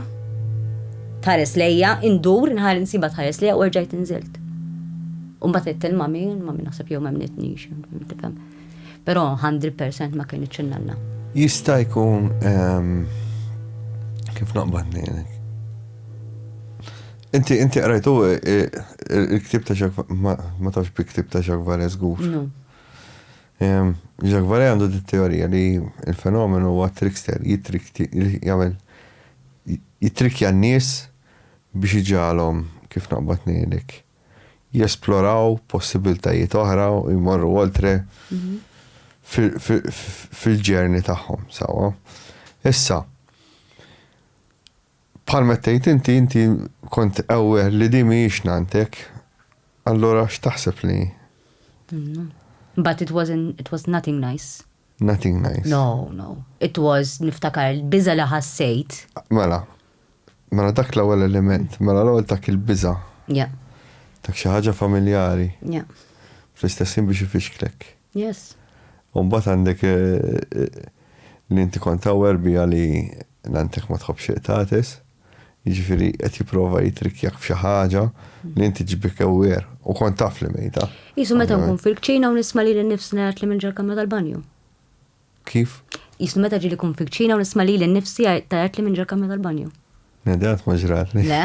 tħares lejja, indur, inħa insibha tħares lejja u erġajt inżilt. U mbagħad għidt il-mami, il-mami naħseb jew m'emmnitnix, tifhem. Però 100% ma kinitx in-nanna. Jista' jkun ehm, kif naqbad ngħidlek. Inti inti qrajtu il-ktieb ta' Jacques ma tafx bi ktieb ta' Jacques Vallée żgur. No. Jacques Vallée għandu dit teorija li il-fenomenu huwa trickster, jagħmel jitrikja n-nies biex iġalhom kif naqbad ngħidlek jesploraw possibiltajiet oħra u jmorru oltre mhm. fil-ġerni tagħhom, sawa. Issa, Bħal meta tgħid inti, inti kont aware li din mhijiex nantek, allura x'taħseb li? But it wasn't, it was nothing nice. Nothing nice. No, no. It was niftakar l-biża li ħassejt. Mela, mela dak l-ewwel element, mela l-ewwel dak il-biża. Yeah. Dak xi ħaġa familjari. Yeah. Fl-istess ħin biex ifixklek. Yes. U mbagħad għandek li inti kont aware biha li nantek ma tħobbx iqtates, jiġifieri qed jipprova jitrikkjak f'xi ħaġa li inti ġibik aware u kont taf li mejta. Qisu meta nkun fil-kċina u nisma' lili nnifsi ngħid li minn ġol-kamra tal-banju. Kif? Jisni meta ġili kun fil-kċina u nisma lili nnifsi tajatli minn ġol-kamra tal-banju. Le, dan ma ġratli. Le?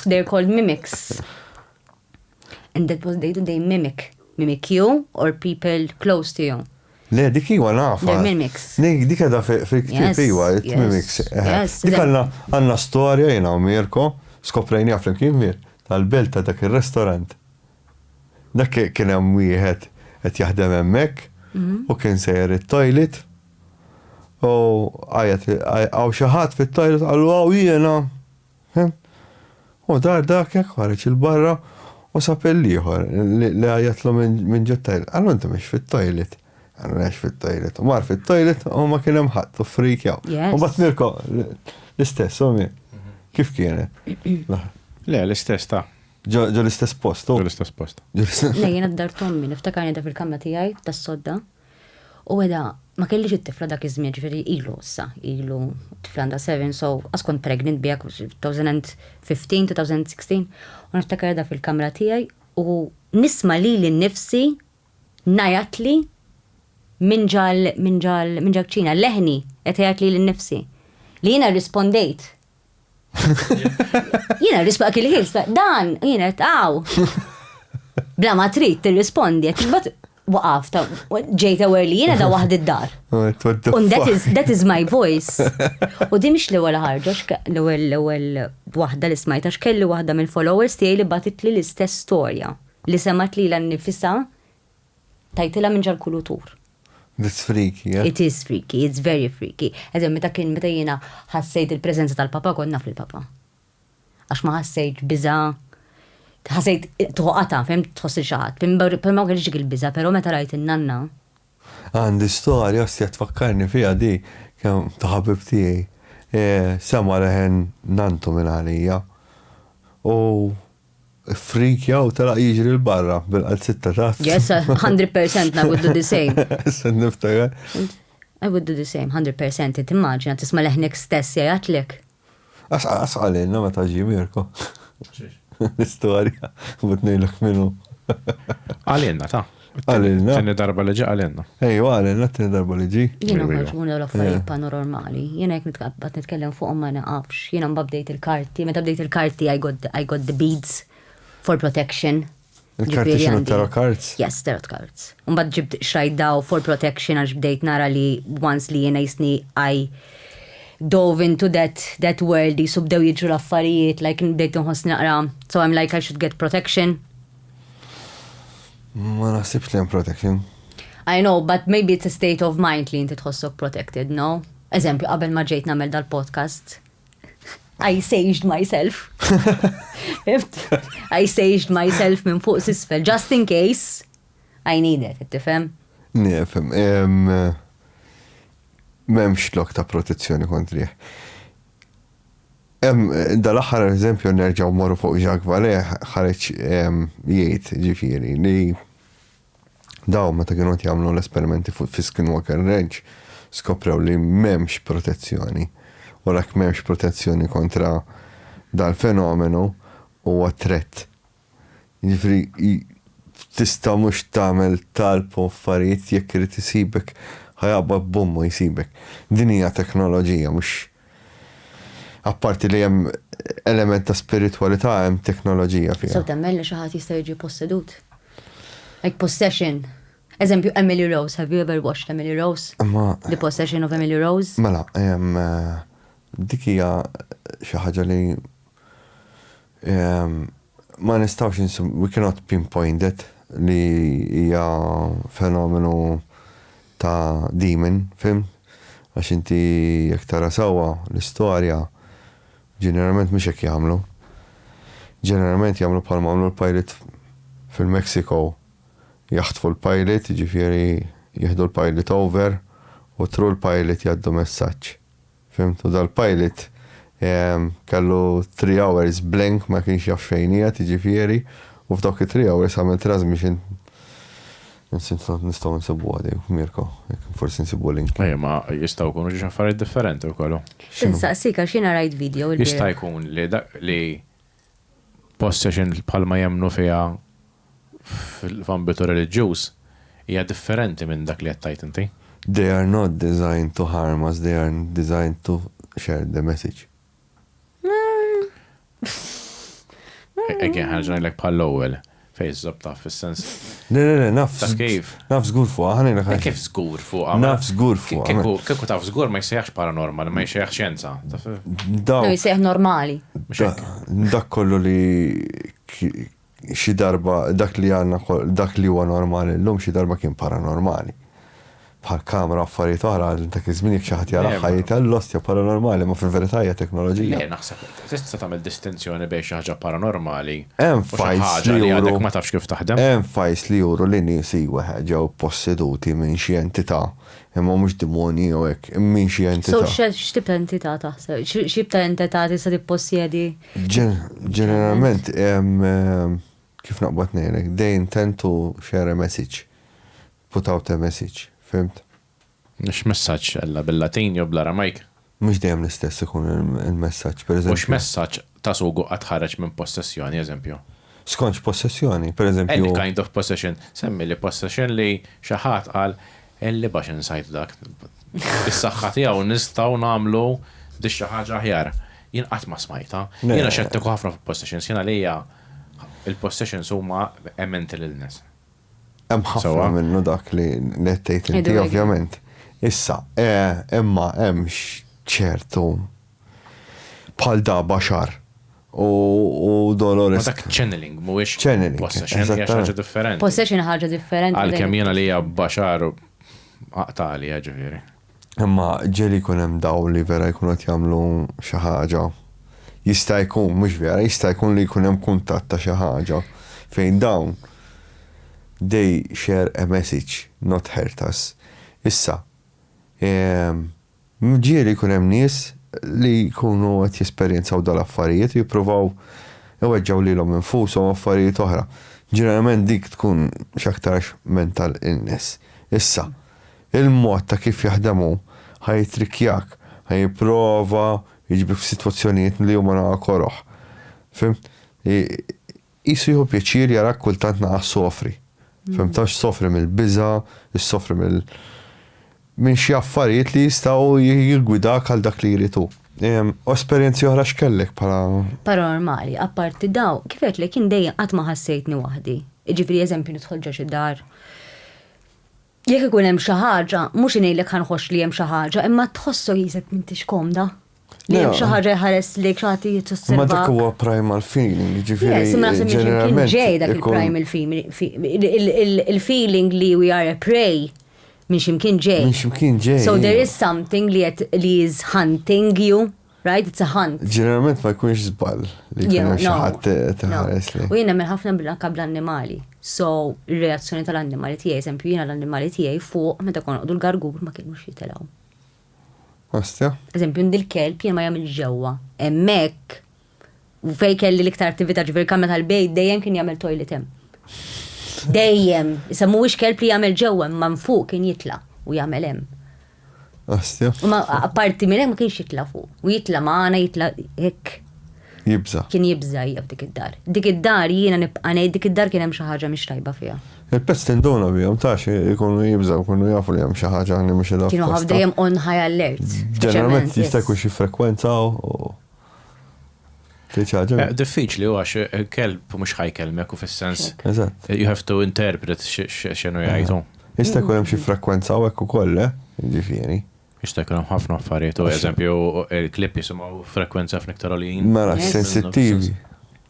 They're called mimics. And that was they do they mimic. Mimic you or people close to you. Le, dik iwa nafa. They're mimics. Dik dik għada fil-ktib iwa, mimics. Dik għanna għanna storja jina u Mirko, skoprejni għaflim kien mir, tal-belt ta' dak il-restorant. Dak kien hemm wieħed qed jaħdem hemmhekk u kien sejjer it-toilet u għajat hawn xi ħadd fit-toilet qalu hawn jiena. U dar dak hekk ħareġ il-barra u sab il-ieħor li għajatlu minn ġo toilet. Qalu inti mhux fit-toilet. Qalu għax fit-toilet. U mar fit-toilet u ma kien hemm ħadd u frik jaw. U bat Mirko l-istess u kif kienet. Le, l-istess ta' Ġo l-istess post, u? Ġo l-istess post. Le, jena d-dar tommi, niftakar jeda fil-kamra tijaj, tas sodda. U għeda, ma kellix it-tifla dak iż-żmien, ġifiri ilu, sa, ilu, tifla għanda 7, so, askont pregnant bijak 2015, 2016, u niftakar jeda fil-kamra tijaj, u nisma li li nifsi, najat li, minn ġal, minn ġal, minn ġal ċina, leħni, etajat li li nifsi. Li jena rispondejt, Jiena risbaq il ħils dan, jiena tqaw. Bla ma trid tirrispondi, bat waqaf ta' ġejta wer li jiena da waħd id-dar. Un that is, that is my voice. U di mhix l-ewwel ħarġa, l-ewwel l-ewwel waħda li smajta x'kelli waħda mill-followers tiegħi li batitli l-istess storja li semat li l-nifisa Tajtilha minn ġal-kulutur. It's freaky, eh? It is freaky, it's very freaky. Eżem, meta kien meta jiena ħassejt il-preżenza tal-papa kont naf il-papa. Għax ma ħassejt biża ħassejt toqata, fem tħoss il-xaħat. Per ma kellix il-biża, pero meta rajt il-nanna. Għandi storja, ostja tfakkarni fija di, kem taħabib tijaj. E, Sama reħen nantu minn għalija. U Frikja u telaq jiġri l-barra bil-qalzit ta' taħt. Yes, 100% I would do the same. Sen niftakar. I would do the same, 100% timmaġina tisma' leħnek stess jgħidlek. Asqalilna ma taġi Mirko. L-istorja, but nejlek minnu. Għalilna ta' Għalilna. Tini darba li ġa għalilna. Ej, għalilna t-tini darba li ġi. Jina ħarġ minn dawn l-affarijiet eh. panormali. Jina jek nitqabbat nitkellem fuq ma naqafx. Jina mbabdejt il-karti, meta bdejt il-karti I got, I got the beads for protection. Il-karti xinu tarot cards? Yes, tarot cards. Mbad ġibt xrajt daw for protection għax bdejt nara li once li jina jisni I dove into that that world jisubdew jiġu l-affarijiet like bdejt nħoss naqra so I'm like I should get protection Ma naħsibx li hemm protection. I know, but maybe it's a state of mind li inti tħossok protected, no? Eżempju, qabel ma ġejt nagħmel dal-podcast, I saged myself. I saged myself minn fuq sisfel, just in case I need it, tifhem? Nifhem. Memx lok ta' protezzjoni kontrih. Hemm dal-aħħar eżempju nerġgħu mmorru fuq Jacques Vallée ħareġ jgħid ġifieri li dawn meta kienu qed jagħmlu l-esperimenti fuq fi Skinwalker Ranch skoprew li m'hemmx protezzjoni. U l-hekk m'hemmx protezzjoni kontra dal-fenomenu huwa threat Jiġifieri tista' mhux tagħmel talb u affarijiet jekk irid isibek ħa jaqbad b'ommu jsibek. Din hija teknoloġija mhux apparti li hemm element ta' spiritwalità hemm teknoloġija fiha. Tistgħu temmen li xi ħadd jista' jiġi possedut? Like possession. Eżempju Emily Rose, have you ever watched Emily Rose? Imma The possession of Emily Rose? Mela, dik hija xi ħaġa li Ma nistgħux insibu, we cannot pinpoint that li hija fenomenu ta' demon, fim? Għax inti jekk tara sewwa l-istorja ġeneralment mhux hekk jagħmlu. Ġeneralment jagħmlu bħalma għamlu l-pajliet fil-Mexico. Jaħtfu l-pajliet, jiġifieri jieħdu l-pajliet over u through l-pajliet jgħaddu messaġġ. Fimtu, u dal-pilot kellu three hours blank ma kienx jaf xejn qiegħed jiġifieri u f'dawk it-three hours għamel transmission Nistgħu nsibuha din, Mirko, jekk forsi nsibu link. Ejja, ma jistgħu jkunu xi affarijiet differenti wkoll. Insaqsik għax jiena rajt video. Jista' jkun li possession bħalma jemmnu fiha f'ambitu reliġjuż hija differenti minn dak li qed tgħid inti. They are not designed to harm us, they are designed to share the message. Again, ħa nerġa' ngħidlek bħall-ewwel. Fejn iżżomm taf fis-sens. Le, le, le, naf. Taf kif? Naf żgur fuqha, ħa ngħidlek ħaġa. Kif żgur fuqha? Naf żgur fuqha. Kieku taf żgur ma jsejjaħx paranormal, ma jsejjaħx xjenza. Daw. Jsejjaħ normali. Dak kollu li xi darba dak li għandna dak li huwa normali llum xi darba kien paranormali. bħal kamra u affarijiet oħra għal dak iż-żmien jekk xi ħadd jaraha jgħidha l-ostja paranormali imma fil-verità hija teknoloġija. Le naħseb tista' tagħmel distinzjoni bejn xi ħaġa paranormali u xi ħaġa li għadek ma tafx kif taħdem. Hemm fajls li juru li nies iwa ġew posseduti minn xi entità imma mhux demonji jew hekk minn xi entità. So x'tip ta' entità taħseb? X'tip ta' entità tista' tippossjedi? Ġeneralment kif naqbad ngħidlek they intend to share a message. Without a message, fhimt? X'messaġġ, Ella? Bil-Latin jew bl-Aramajk? Mhux dejjem l-istess ikun il-messaġġ, per eżempju. U x'messaġġ ta' sugu qatt ħareġ minn possessjoni, eżempju? Skont x'possessjoni? Per eżempju. Any kind of possession. Semmili possession li xi ħadd qal, Elli bax insajt dak. Bis-saħħa tiegħu nistgħu nagħmlu di xi ħaġa aħjar. Jien qatt ma smajtha. Jiena xettiku ħafna fuq possessions. Jien għalija l-possessions huma a mental illness. Hemm ħafna minnu dak li qed tgħid inti ovvjament. Issa, imma hemm ċertu bħal da baxar u Dolores. Dak channeling mhuwiex channeling. Possession hija ħaġa differenti. Possession ħaġa differenti. Għalkemm jiena li hija baxar aqtali ġifieri. Imma ġieli jkun hemm dawl li vera jkunu qed jagħmlu xi ħaġa. Jista' jkun, mhux vera, jista' jkun li jkun hemm kuntatt ta' xi ħaġa fejn dawn they share a message, not hurt us. Issa, ġieli jkun hemm nies li jkunu qed jesperjenzaw dawn l-affarijiet u jippruvaw iweġġgħu lilhom infushom u affarijiet oħra. Ġeneralment dik tkun x'aktarx mental illness. Issa. Il-mod ta' kif jaħdem hu, ħa jittrikkjak, ħa jipprova jġibek f'sitwazzjonijiet li huma naqa' koroh. Fimt? Qisu jieħu pjaċir jarak kultant naqa' ssofri. Fimt? Taf ssofri mill-biża', issofri mill minn xi affarijiet li jistgħu jiggwidak għal dak li jrid hu. U esperjenzi oħra x'kellek bħala. Paranormali, apparti dawn, kif għedtlek jien dejjem qatt ma ħassejtni waħdi. Jiġifieri eżempju nidħol ġo xi dar, Jekk ikun hemm xi ħaġa, mhux ngħidlek ħa nħoss li hemm xi ħaġa, imma tħossok jisek m'intix komda. Li hemm xi ħaġa jħares lejk xi ħadd jitosserva. Ma dak huwa primal feeling, ġifieri. Simma naħseb kien ġej dak il-primal feeling. Il-feeling li we are a prey minn ximkien ġej. Minn ximkien ġej. So there is something li is hunting you. Right, it's a hunt. Ġeneralment ma jkunx żball li jkun hemm xi ħadd qed iħares lejk. U jien nemmen ħafna anke bl-annimali. So, ir-reazzjoni tal-annimali tiegħi, eżempju jiena l-annimali tiegħi fuq meta konna noqogħdu l-gargur ma kinux jitilgħu. Ostja. Eżempju, għandi l-kelb jien ma jagħmilx ġewwa. Hemmhekk. U fejn kelli l-iktar attività ġifieri kamra tal-bejt dejjem kien jagħmel toilet hemm. Dejjem, issa mhuwiex kelb li jagħmel ġewwa imma minn fuq kien jitla' u jagħmel hemm. Astja. U ma apparti minn hekk ma kienx jitla' fuq. U jitla' magħna jitla' hekk. Jibża'. Kien jibża' hija f'dik id-dar. Dik id-dar jiena nibqa' ngħid dik id-dar kien hemm xi ħaġa mhix tajba fiha. Il-pets tinduna bihom taf ikunu jibżgħu jkunu jafu li hemm xi ħaġa li mhix edha. Kienu ħafna dejjem on high alert. Ġeneralment jista' jkun xi frekwenza u. Eh, diffiċli u għax eh, kelb mux ħajkelmek u fil-sens. Eh, you have to interpret xenu jgħajtu. Ista jkun hemm xi frekwenza u hekk ukoll, ġifieri. Ista jkun hemm ħafna affarijiet u eżempju il-klip jisimgħu frekwenza f'niktar għalin. Mela, sensittivi.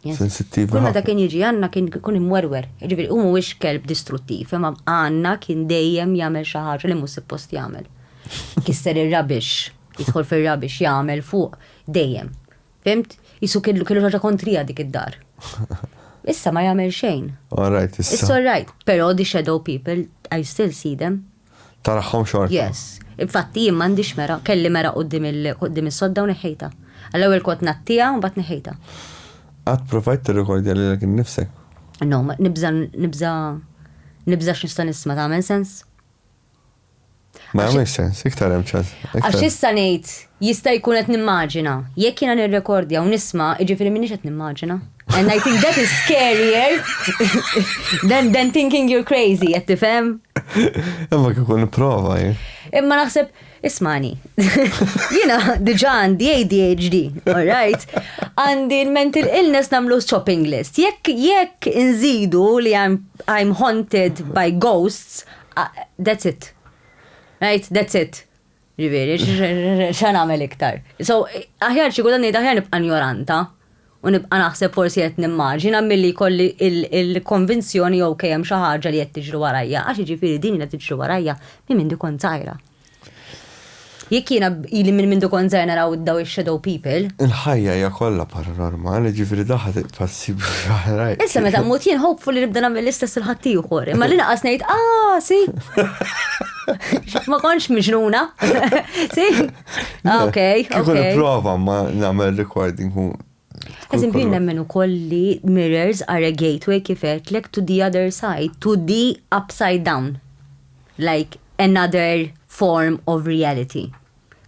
Sensittivi. Kull meta kien jiġi għandna kien kun imwerwer. Ġifieri u mhuwiex kelb distruttiv, imma għandna kien dejjem jagħmel xi ħaġa li mhux suppost jagħmel. Kisser ir-rabix. Jidħol fir-ra biex jagħmel fuq dejjem. Fimt? Jisu kellu kellu ħaġa kontrija dik id-dar. Issa ma jagħmel xejn. All right, issa. It's all right, però the shadow people, I still see them. Taraħħom xorta. Yes. Infatti jien m'għandix mera, kelli mera qudiem il-qudiem is-sodda u neħħejta. Għall-ewwel kont nattija u mbagħad neħħejta. Qatt provajt tirrikordja li l nifsek? No, nibża nibża nibża x'nista' nisma' tagħmel sens? Ma jagħmilx sens, iktar hemm ċans. Għax issa ngħid jista' jkun qed nimmaġina. Jekk jiena nirrekordja u nisma', jiġifieri m'iniex qed nimmaġina. And I think that is scarier than, than thinking you're crazy, qed tifhem? Imma kif kun prova eh. Imma naħseb Ismani, jina diġa għandi ADHD, alright? Għandi mental illness namlu shopping list. Jekk jekk inżidu li I'm, I'm haunted by ghosts, That's it. Right? That's it. Ġifieri, xa nagħmel iktar. So, aħjar xi kultant ngħid aħjar nibqa' njoranta u nibqa' naħseb forsi qed nimmaġina milli jkolli il-konvinzjoni jew kemm xi ħaġa li qed tiġri warajja, għax jiġifieri din li qed tiġri warajja minn minn kont żgħira. Jekk jiena ili minn mindu kont żgħir naraw daw ix-shadow people. Il-ħajja hija kollha paranormali, ġifieri dawn ħa tibqa' ssib oħrajn. Issa meta mmut jien hopefully nibda nagħmel l-istess il ħaddieħor. Imma li naqas ngħid, ah, si. Ma kontx miġnuna. Si? Ah, ok. Kieku nipprova ma nagħmel recording Eżempju, jien nemmen ukoll li mirrors are a gateway kif għedtlek to the other side, to the upside down. Like another form of reality.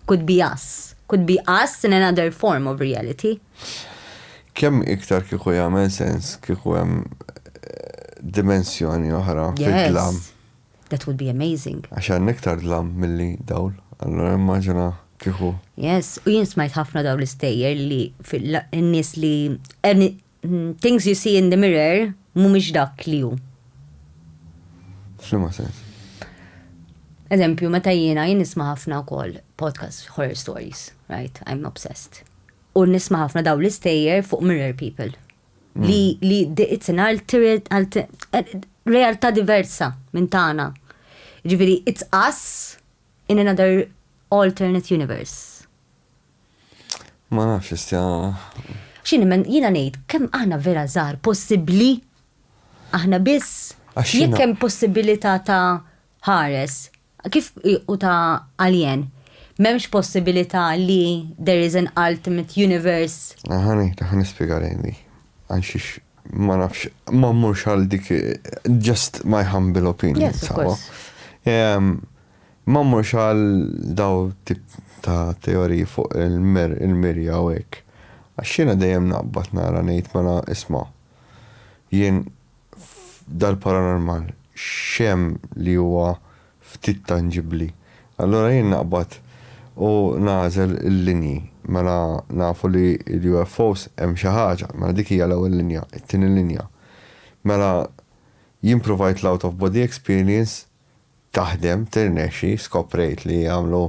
Could be us. Could be us in another form of reality. Kemm iktar kieku jagħmel sens kieku hemm dimensjoni oħra fid-dlam. That would be amazing. Għax hemm iktar dlam milli dawl, allura immaġina kieku. Yes, u jien smajt ħafna dawn l-istejjer li n-nies li mm, things you see in the mirror mhumiex dak li hu. F'liema sens. Eżempju, meta jiena jien nisma' ħafna wkoll podcast horror stories, right? I'm obsessed. U nisma' ħafna daw l-istejjer fuq mirror people. li li diqitna għal tiret- għal ti- eh, realtà diversa minn tagħna. Ġifieri, it's us in another alternate universe. Ma nafx istja. X'in men jiena ngħid kemm aħna vera żgħar possibbli aħna biss Għax jiena- jekk hemm possibilità ta' ħares Kif hu ta' alien? M'hemmx possibilità li there is an ultimate universe? Ħa nispjega lejn li. Għalxiex ma nafx, ma mmurx għal dik, just my humble opinion, sawa? Ma mmurx għal dawn it-tip ta' teoriji fuq il-mirja u hekk. Għax jiena dejjem naqbad nara ngħid mela isma', jien, f'dal-paranormal x'hemm li huwa ftit tanġibbli? Allura jien naqbad u nagħżel il-linji. Mela nafu li l-UFOs hemm xi ħaġa, mela dik hija l-ewwel linja, it-tieni linja. Mela jien provajt l-out of body experience taħdem, tirnexxi, skoprejt li jagħmlu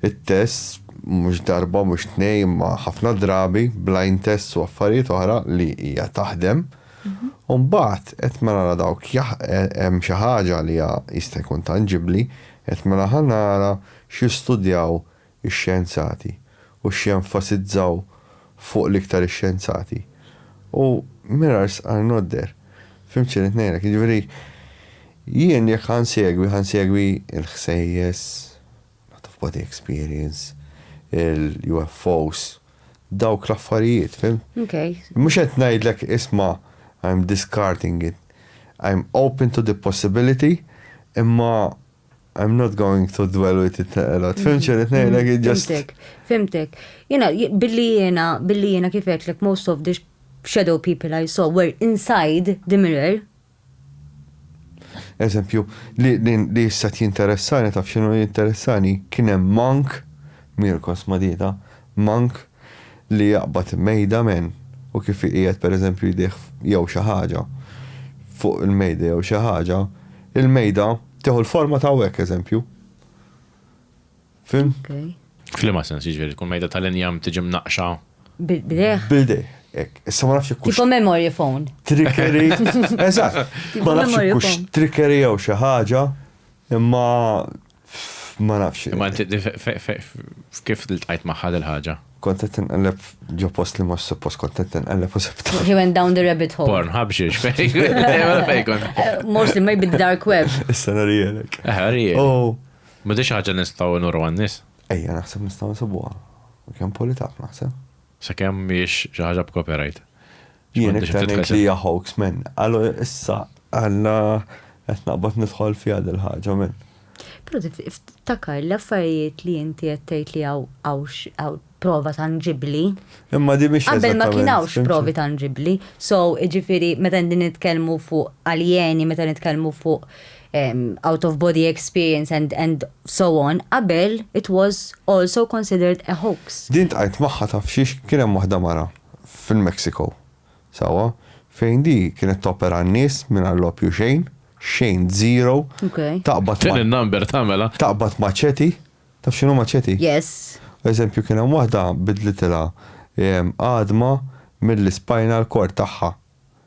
it-test mhux darba, mhux tnejn imma ħafna drabi, blind tests u affarijiet oħra li hija taħdem. U mbagħad qed ma nara dawk hemm xi ħaġa li hija jista' jkun tanġibbli, qed ma naħa nara x'jistudjaw ix-xjenzati u x'jenfasizzaw fuq l-iktar ix-xjenzati u mirrors are not there. Fhimt xi rrid ngħidlek? Jiġifieri jien jekk ħa nsegwi, ħa nsegwi l-ħsejjes, l-out of body experience, il-UFOs, dawk l-affarijiet, fhimt? Okay. Mhux qed ngħidlek isma' I am discarding it. I am open to the possibility imma I'm not going to dwell with it naqra. Tfim xejn qed ngħidlek mm-hmm. just. Fimtek, fimtek. Jiena billi jiena billi jiena kif like most of the shadow people I saw were inside the mirror. Eżempju, li li issa jinteressani taf x'inhu jinteressani kien hemm monk Mirkos Madita, monk li jaqbad mejda men u kif iqiegħed pereżempju jdejh jew xi ħaġa fuq il-mejda jew xi ħaġa, il-mejda tieħu l-forma ta' hekk eżempju. Fhimt? F'liema sens jiġifieri tkun mejda tal-injam tiġi mnaqqxa? B'idejh. B'idejh, hekk. Issa ma nafx jekk Tipo memory phone. Trickery. Eżatt. Ma nafx jekk trickery jew xi ħaġa, imma Ma nafx. Imma inti kif tqajt magħha dil-ħaġa? Kont qed inqelleb ġo post li mhux suppost kont qed inqelleb u sibt. He went down the rabbit hole. Porn ħabxiex fejn. Mostly maybe the dark web. Issa narijelek. Eh, narijelek. Oh. M'għadix ħaġa nistgħu nuru għan-nies. Ejja naħseb nistgħu nsibuha. Kemm politaf naħseb. Sakemm mhijiex xi ħaġa b'copyright. Jien iktar ngħid li hija hoax men. Għalu issa għandna qed naqbad nidħol fiha dil-ħaġa men. Però tiftakar l-affarijiet li inti qed tgħid li hawn prova tanġibbli. Imma din mhix. Qabel ma kien hawnx provi tanġibbli. So, jiġifieri meta nitkellmu fuq aljeni, meta nitkellmu fuq out of body experience and and so on, qabel it was also considered a hoax. Din tqajt magħha taf xiex kien hemm waħda mara fil-Mexico sewwa fejn di kienet topera n-nies mingħajr l-opju xejn, xejn zero, taqbad Din in-number tagħmela. Taqbad maċeti, taf x'inhu maċeti? Yes. Eżempju kien hemm waħda bidlitilha għadma mill-ispinal cord tagħha.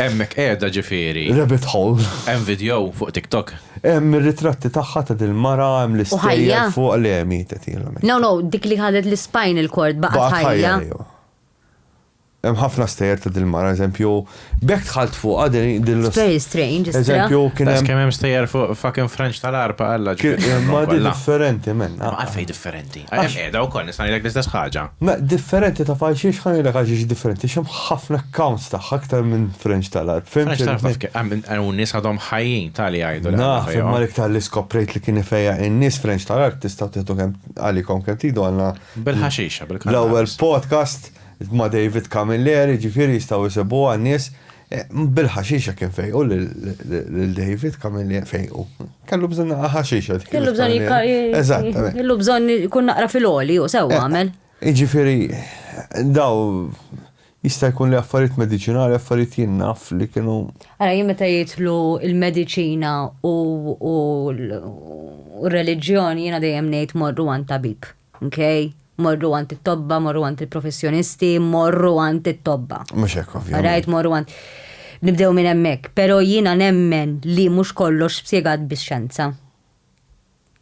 Hemmhekk qiegħda ġifieri. Rabbit hole. Hemm vidjo fuq TikTok. Hemm ir-ritratti tagħha ta' dil-mara, hemm l-istejjer fuqha le mietet hi. No, no, dik li ħadet l-spinal cord baqgħet ħajja. Hemm ħafna stejjer ta' dil-mara, eżempju, b'hekk dħalt fuqha din l-. Very strange, istra. Eżempju, kien hemm. Kemm hemm stejjer fuq fucking French tal-arpa alla ġifieri. Ma di differenti minn. Għalfejn differenti? Hemm qiegħda wkoll nista' ngħidlek l-istess ħaġa. Mela, differenti taf għalxiex? Ħa ngħidlek għalxiex differenti, għax hemm ħafna accounts tagħha aktar minn French tal-Għarb. French tal-Għarb taf kif hemm hawn nies għadhom ħajjin ta' li jgħidu li għandha fejqha. Naf, imma l-iktar li skoprejt li kien ifejjaq in-nies French tal-Għarb tistgħu tieħdu kemm għalikom kemm tridu għandna Bil-ħaxixa, bil-kannabis. L-ewwel podcast ma' David Camilleri, jiġifieri jistgħu jsibuha n-nies Bil-ħaxixa kien fejqu lil David Camillier fejqu. Kellu bżonn naqra ħaxixa. Kellu bżonn Eżattament. Kellu bżonn kun naqra fil-oli u sew eh, għamel. Iġifieri daw jista' jkun li affarijiet mediċinali, affarijiet jien naf li kienu. Ara jien meta jitlu il-mediċina u r-reliġjon jiena dejjem ngħid morru għand tabib. Mkej, morru għand it-tobba, morru għand il-professjonisti, morru għand it-tobba. Mhux hekk ovvjament. Rajt morru għand. Nibdew minn hemmhekk, però jiena nemmen li mhux kollox spjegat bix-xjenza.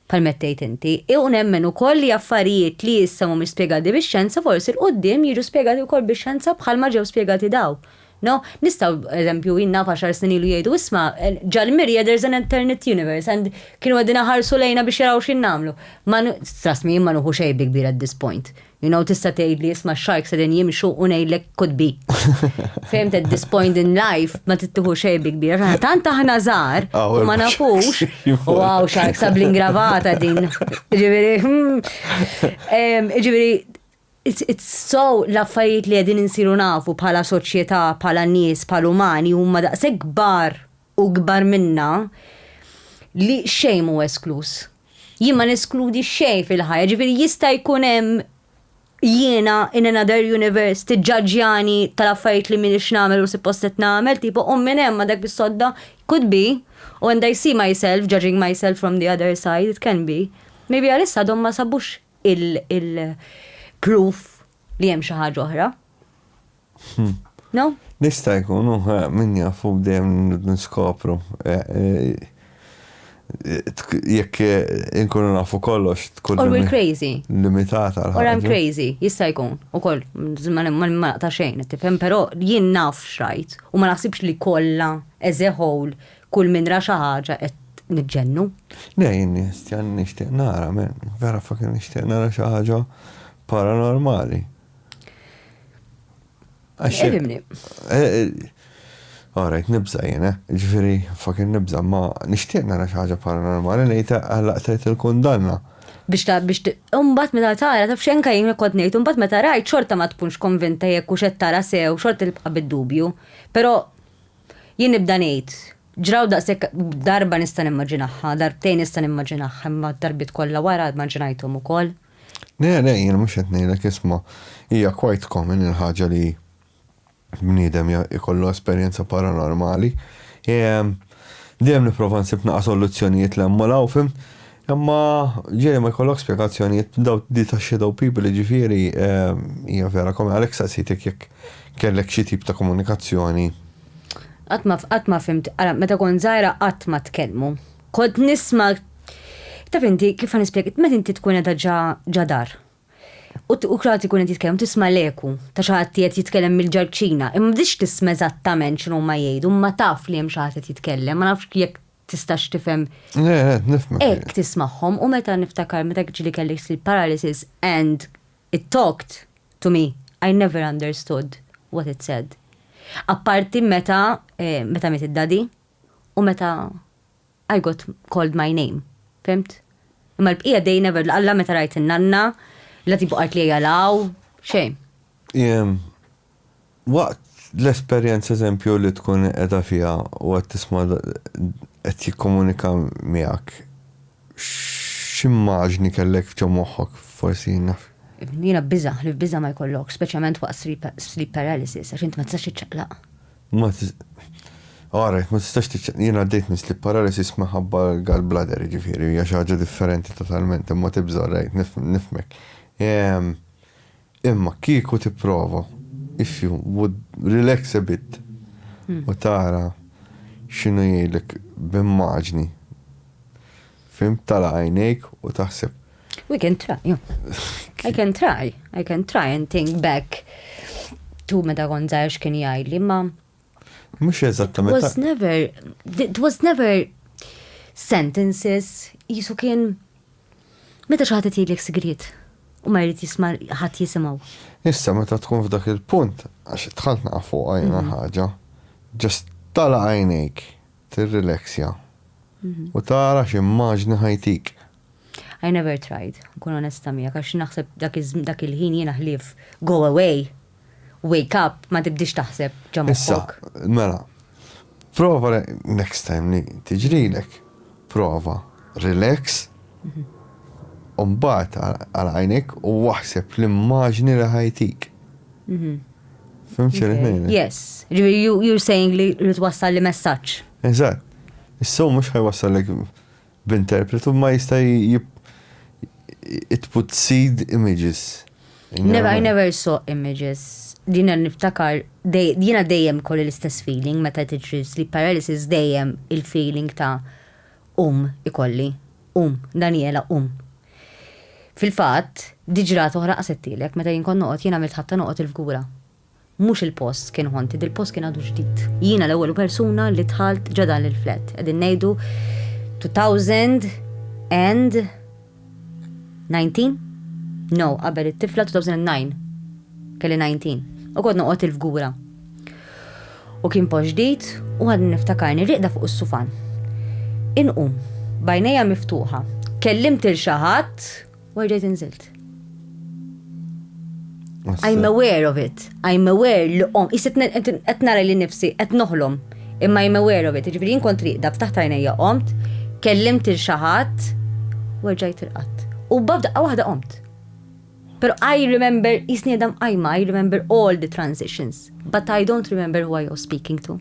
Permettejt inti, u nemmen ukoll li affarijiet li issa mhumiex spjegati bix-xjenza forsi l-quddiem jiġu spjegati wkoll bix-xjenza bħalma ġew spjegati dawn. No, nistgħu, eżempju, jien naf għaxar snin ilu jgħidu, isma', Ġal Mirja there's an alternate universe and kienu qegħdin iħarsu lejna biex jaraw x'in nagħmlu. Ma, trust me, jien ma nuħu xejn bi kbir at this point. You know, tista' tgħidli, isma' x-sharks qegħdin jimxu u ngħidlek could be. Fehmt at this point in life ma trid tieħu xejn bi kbir. Aħna tant aħna żgħar u ma nafux. U għaw sharks ta' bl-ingravata din. Ġifieri, hmm. ġifieri, So l-affarijiet li qegħdin insiru nafu bħala soċjetà, bħala nies, bħal umani huma daqshekk kbar u ikbar minna li xejn mhu eskluż. Jien ma neskludi xejn fil-ħajja, ġifieri jista' jkun hemm jiena in another universe tiġġaġġjani tal-affarijiet li m'iniex nagħmel u suppost qed nagħmel, tipo qumm minn hemm ma' dak is-sodda, could be, u and I see myself judging myself from the other side, it can be. Maybe għalissa għadhom ma sabux il-proof li hemm xi ħaġa oħra. Hmm. No? Nista' jkun, eh, min jafu dejjem niskopru. Eh, eh, jekk inkunu nafu kollox tkun. Or we're crazy. Limitata. Or I'm crazy, jista' jkun. U koll, ma naqta xejn, tifhem, però jien naf xrajt u ma naħsibx li kollha as a whole Kull min ra xi ħaġa qed niġġennu. Le jien nistjan nixtieq nara men, vera fucking nixtieq nara xi ħaġa paranormali. Għaximni. Eh, eh, Alright, nibza jena, eh? ġifiri, fucking nibza, ma nishtiq nara xaħġa paranormali, nejta għallaqtajt il-kundanna. Biex ta' biex umbat meta tara taf xenka jien kont ngħid umbat meta rajt xorta ma tkunx konvinta jekk u xed tara sew xorta tibqa' bid-dubju. Però Jien nibda ngħid, ġraw daqshekk, darba nista' nimmaġinahha, darbtejn nista' nimmaġinahha, imma d-darbiet kollha wara immaġinajthom ukoll. Le, le, jien mhux qed ngħidlek, isma', hija quite common il-ħaġa li bniedem jkollu esperjenza paranormali. Dejjem nipprova nsib naqas olluzzjonijiet 'l hemm u 'l hawn, fimt? Imma ġieli ma jkollok spjegazzjonijiet daw di ta' shadow people jiġifieri hija vera kommi għalhekk staqsejtek jekk kellek xi tip ta' komunikazzjoni. Qatt ma qatt ma fhimt ara meta kont żgħira qatt ma tkellmu. Kont nisma' taf inti kif ħa nispjeg meta inti tkun qiegħda ġa ġa dar u u ħadd ikun qed jitkellem u tisma' l-eku ta' xi ħadd qiegħed jitkellem mill-ġarċina imma ma tridx tisma' eżattament x'inhuma jgħidu imma taf li hemm xi ħadd qed jitkellem ma nafx jekk tistax tifhem. Le, le, nifhmek. Hekk tismagħhom u meta niftakar meta ġieli kelli sleep paralysis and it talked to me, I never understood what it said. Apparti meta eh, meta miet id-daddy u meta I got called my name. Fhimt? Imma l-bqija they never, alla meta rajt in-nanna, la tibu qalt li jalaw, xejn. Jem, Waqt l-esperjenza eżempju li tkun qiegħda fiha u qed tisma' qed jikkomunika miegħek, x'immaġni kellek ġo moħħok forsi? Jiena biża', ħlief biża' ma jkollokx, speċjalment waqt sleep paralysis, għax int ma tistax tiċċaqlaq. Ma All right, ma tistax tiċċaqlaq. Jien għaddejt minn sleep paralysis minħabba l-gallbladder, jiġifieri hija xi ħaġa differenti totalment, imma tibża' all right, nifhmek. Imma kieku tipprova, if you would relax a bit u tara x'inhu jgħidlek b'immaġni, fhimt, tagħlaq għajnejk u taħseb. We can try, I can try, I can try and think back to meta kont żgħir x'kien jgħidli, imma Mhux eżattament. It was never, it was never sentences, jisu kien meta xi ħadd jgħidlek sigriet u ma jrid jisma' ħadd jisimgħu. Issa meta tkun f'dak il-punt, għax tħalt naqa' fuq għajna mhm. ħaġa, ġast tala għajnejk, tirrileksja mhm. u tara x'immaġni ħajtik. I never tried, kun onesta miegħek għax naħseb dak il-ħin jiena ħlief go away Wake up, ma tibdiex taħseb ġo moħħok. Issa, mela, prova next time li tiġrilek, prova relax, u mbagħad għal għajnek u waħseb l-immaġni li ħajtik. Mhm. Fimx il-ħin. Yes. You're saying li twassal li messaċ. Eżat. Issu mux ħajwassal li B'interpretu ma jista' it put seed images in your mind? I never saw images. Jiena niftakar, jiena dejjem ikolli l-istess feeling meta tiġri sleep paralysis dejjem il-feeling ta' qum ikolli. Qum, Daniela qum. Fil-fatt, diġrata oħra qasithielek, meta jien kont noqgħod, jien għamilt ħabta noqgħod il-fgura. Mhux il-post kien haunted, il-post kien għadu ġdid. Jiena l-ewwel persuna li dħalt ġo dan il-flat. Qegħdin ngħidu 2019? No, qabel it-tifla 2009. Kelli 19. U kont noqgħod il-fgura. U kien post ġdid u għadni niftakarni rieqda fuq is-sufan. Inqum, bajnejja miftuħa. Kellimt il xi ħadd Why did inżilt? I'm aware of it. I'm aware li om. Isit qed nara li nifsi qed noħlom. Imma I'm aware of it. Ġifieri jien kont riqda ftaħt għajnejja qomt, kellimt il xi ħadd, werġajt irqatt. U babda waħda qomt. Pero I remember, jisni għadam għajma, I remember all the transitions, but I don't remember who I was speaking to.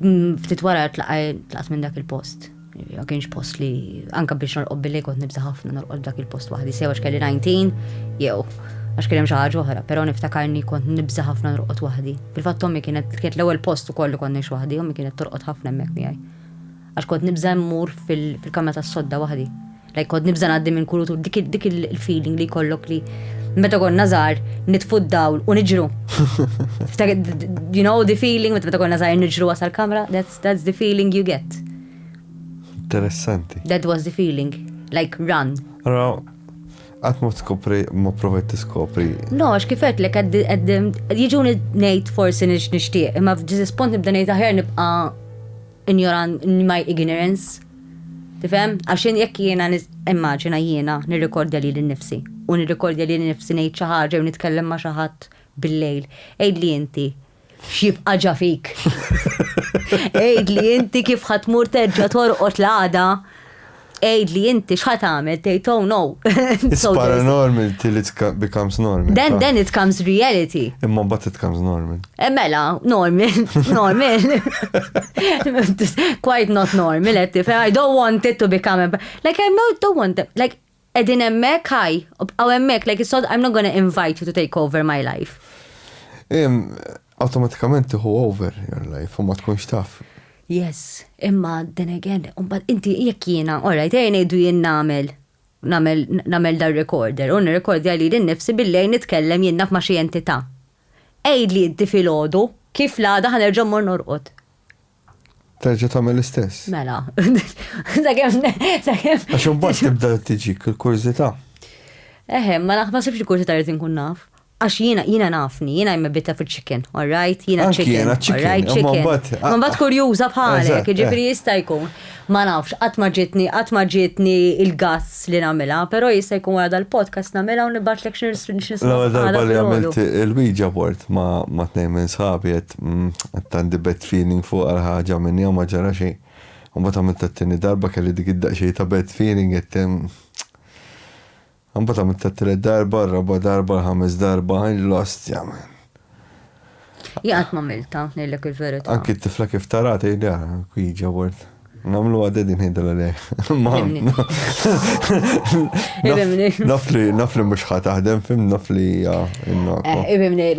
Ftit wara tlaqajt minn dak il-post. Ma kienx post li anka biex norqob billi kont nibża ħafna norqob dak il-post waħdi sew għax kelli 19 jew għax kien hemm xi ħaġa oħra, però niftakarni kont nibża ħafna norqod waħdi. Fil-fatt ommi kienet kienet l-ewwel post ukoll li kont ngħix waħdi, ommi kienet torqod ħafna hemmhekk miegħi. Għax kont nibża' mmur fil-kamra tas-sodda waħdi. Lajk kont nibża' ngħaddi minn kull dik il-feeling li jkollok li meta konna żgħar nitfu d-dawl u niġru. You know the feeling meta konna żgħar niġru wasal kamra, that's the feeling you get. Interessanti. That was the feeling, like run. Ra, għat ma tskopri, ma provajt tiskopri. No, għax kifet li għad jiġu nejt forsi nix nishtiq, imma f'ġizis punt nibda nejt aħjar nibqa Injoran, my ignorance. Tifhem? Għax jien jekk jiena nis, immaġina jiena nirrikordja lili nnifsi, u nirrikordja lili nnifsi ngħid xi ħaġa jew nitkellem ma' xi ħadd bil-lejl. Għidli inti x'jibqa' ġa fik? Għidli inti kif ħa tmur terġa' torqod l-għada Għidli inti x'ħa tagħmel tgħid oh no. It's paranormal till it becomes normal. Then then it comes reality. Imma mbagħad it comes normal. Eh, mela, normal, normal. Quite not normal, qed eh, I don't want it to become a... Like I don't want it. Like edin emmek ħaj, għaw emmek, like, so I'm not gonna invite you to take over my life. Automatikament tiħu over your life, u ma tkunx taf. Yes, imma then again, mbagħad inti jekk jiena, all right, ejja ngħidu jien nagħmel nagħmel nagħmel dan recorder u nirrekordja lili nnifsi billi qegħd nitkellem jien naf ma' xi entità. Għidli inti filgħodu kif l-għada ħa nerġa' mmur norqod. Terġa' tagħmel l-istess. Mela. Sakemm sakemm. Għax imbagħad tibda tiġik il-kurżità. Eħe, ma naħsibx li kurżità rrid inkun naf. Għax jiena, jiena nafni, jiena jimma bitta fil chicken, all right? Jiena chicken, all right? Chicken. Ma bat kurjuza bħalek, ġifri jista jkun. Ma nafx, għat maġitni, għat maġitni il-gazz li namela, pero jista jkun għada l-podcast namela u nibat l-ek xnil L-għal darba li għamilt il-bija bort ma t-nej minn sabi għet mm, tandi bet feeling fuq għal-ħagġa minni għu maġara xej. U bat għamilt t-tini darba kelli dik id-daqxej ta' bet feeling għet mm, Imbagħad għamilt it-tielet darba, r-raba' darba, l-ħames darba, l-ostja man. Jien qatt m'għamiltha, ngħidlek il-verità. Anki t-tifla kif tara tgħidli ara kwieġa word. Namlu għaddi din ħidda l-għalej. Nafli, nafli mux ħataħdem, fim nafli ja. Ibimni,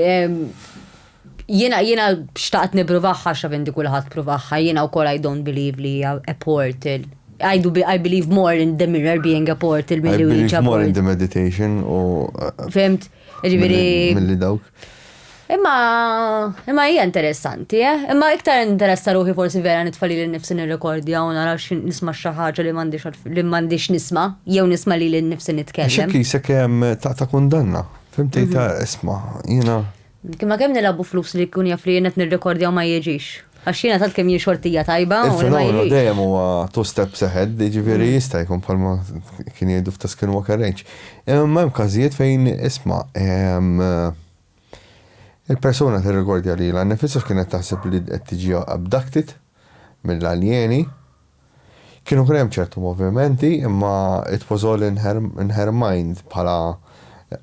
Jiena jiena xtaqt nippruvah għax naf inti kulħadd pruvaha, jiena wkoll I don't believe li hija a portal. I do I believe more in the mirror being a portal milli I believe more in the meditation u Fimt? Ġifieri. Milli dawk. Imma imma hija interessanti, eh? Imma iktar interessa ruħi forsi vera nitfa' lili nnifsi nirrekordja u nara nisma' xi ħaġa li m'għandix li m'għandix nisma' jew nisma' lili nnifsi nitkellem. X'hekk isek ta' kundanna. Fimti ta' isma' jiena. Imma kemm nilagħbu flus li jkun jaf li jien qed nirrekordja u ma jiġix. Għax jiena tant kemm jien xortija tajba u ma jiġix. Il-fenomenu dejjem huwa two steps ahead, jiġifieri jista' jkun bħalma kien jgħidu f'The Skinwalker Range. Imma hemm każijiet fejn isma' il-persuna tirrekordja lilha nnifisha x'kienet taħseb li qed tiġi abducted mill-aljeni. Kienu kien hemm ċertu movimenti imma it was all in her in her mind bħala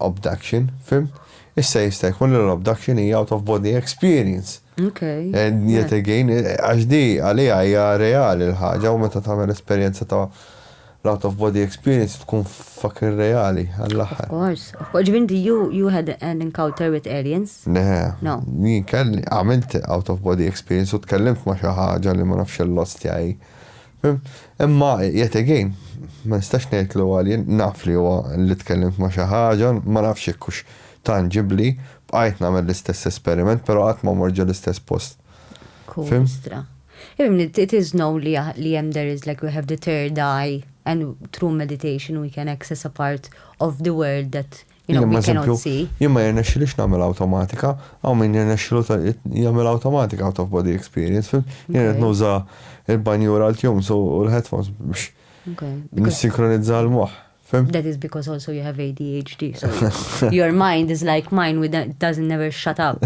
obduction, fimt? Issa jista' jkun li l-obduction hija out of body experience. Ok. And yet again, għax di għaliha hija reali l-ħaġa u meta tagħmel esperjenza ta' l-out of body experience tkun Fuck ir-reali, għall-aħħar. Of course, of course. Ġifieri inti you, you had an encounter with aliens? Le. No. Jien kelli, għamilt out of body experience u tkellimt ma' xi ħaġa li ma nafx l-ostja hi. Imma yet again, ma nistax ngħidlu alien, naf li huwa li tkellimt ma' xi ħaġa, ma nafx jekk hux tangibbli, bqajt nagħmel l-istess esperiment, però qatt ma mort ġol-istess post. Kustra. Imni, it is know li li jem there is like we have the third eye and through meditation we can access a part of the world that you know we cannot see. Jien ma jirnex li x'namel automatika, għaw minn jirnex lu jamel automatika out of body experience, fim? Jien għed nuża il-banjura l-tjum so u l-headphones biex nissinkronizza l-moħ. That is because also you have ADHD. So your mind is like mine, with it doesn't never shut up.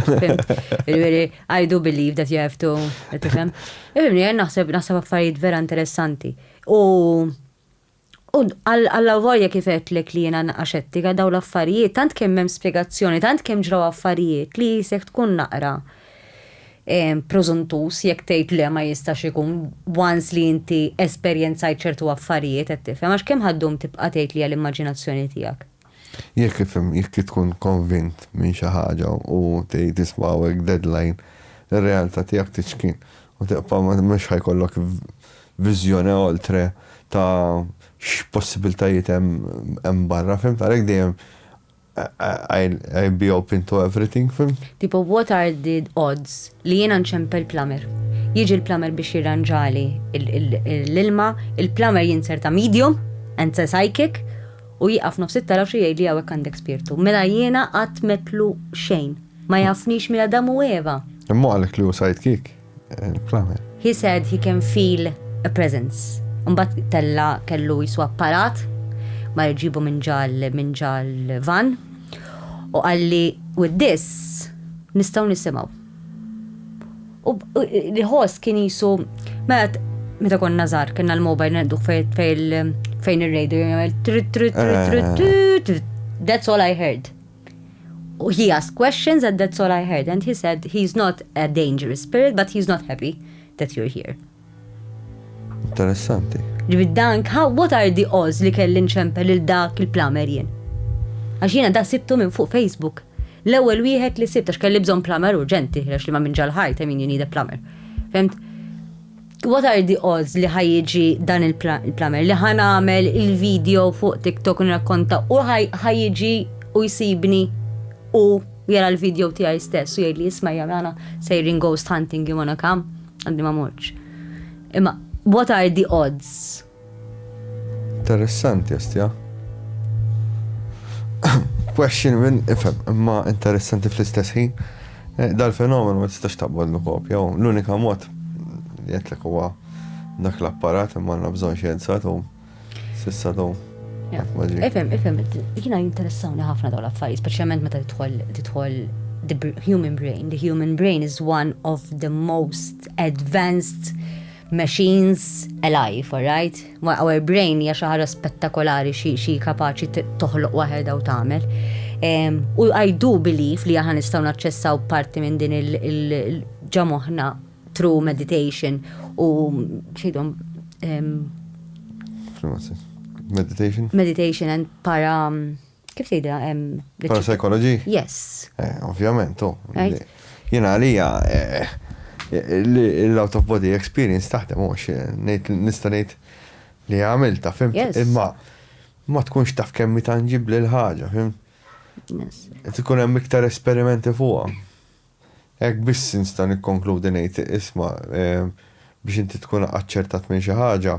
I do believe that you have to. Tifhem? Irni, naħseb naħseb affarijiet vera interessanti. U għalla vorja kifet li kliena naqaxetti għadaw l-affarijiet, tant kemm hemm spiegazzjoni, tant kemm ġraw affarijiet li jisek tkun naqra. preżuntuż jekk tgħid le ma jistax ikun once li inti esperjenzajt ċertu affarijiet qed tifhem għax kemm ħa ddum tibqa' tgħid li hija l-immaġinazzjoni tiegħek. Jekk ifhem jekk tkun konvint minn xi ħaġa u tgħid isma' hawnhekk deadline ir-realtà tiegħek tiċkin u tibqa' mhux ħa jkollok viżjone oltre ta' x'possibiltajiet hemm barra fimt għalhekk dejjem I'll be open to everything, fhimt? Tipo what are the odds li jiena nċempel plumber. Jiġi l-plumber biex jirranġali l-ilma, il-plumber jinser ta' medium and sa psychic u jieqaf nofs it-taraxxi jgħidli hawnhekk għandek spirtu. Mela jiena qatt m'għedtlu xejn. Ma jafnix minn Adam u Eva. Imma hu qalek li hu sidekick. He said he can feel a presence. Umbat tella kellu jisu apparat ma jġibu minn ġal minn ġal van u għalli with this nistaw nisimaw. U li ħoss kien jisu meta meta konna żgħar kienna l-mobile ngħidu fejn ir-radio jagħmel trit trit trit trit trit That's all I heard. He asked questions and that's all I heard and he said he's not a dangerous spirit but he's not happy that you're here. Interessanti. Ġivi dan, how, what are the odds li kelli nċempel il dak il-plamer jien? Għax jiena da sibtu minn fuq Facebook. L-ewwel wieħed li sibt għax kelli bżonn plamer urġenti, għax li ma minn ġal-ħajt, I mean you need a plumber. Femt? What are the odds li ħajġi dan il-plamer li ħan għamel il-video fuq TikTok nrakkonta u ħajġi u jsibni u jara l-video tiegħi stess u jgħidli jisma' jamana sejrin ghost hunting jimona kam għandi ma morċ. Imma what are the odds? Interessanti Astia. Question minn ifhem, imma interessanti fl-istess ħin. Eh, dal-fenomenu ma tistax taqbad kopja, l-unika mod li għetlek huwa dak l-apparat imma għandna bżonn xjenza tu sissa tu. Ifhem, ifhem, jiena jinteressawni ħafna dawn l-affarijiet, speċjalment meta tidħol tidħol the human brain. The human brain is one of the most advanced Machines alive, alright? Ma our brain hija xi ħaġa spettakolari xi xi kapaċi t- toħloq waħedha u tagħmel. Em, U I do believe li aħna nistgħu naċċessaw parti minn din il- il- il- ġa moħħna through meditation u xidhom em, X'nu għassi? Meditation? meditation and para Kif tgħidha? Parapsychology? Yes. Eh, ovvjament, u. Jiena għalija eh, l-out of body experience taħdem u nista' ngħid li għamilta, fim? Imma ma tkunx taf kemm tanġibli l-ħaġa, fim? Yes. Tkun hemm iktar esperimenti fuqha. Hekk biss nista' nikkonkludi ngħid, isma', biex inti tkun aċċertat minn xi ħaġa,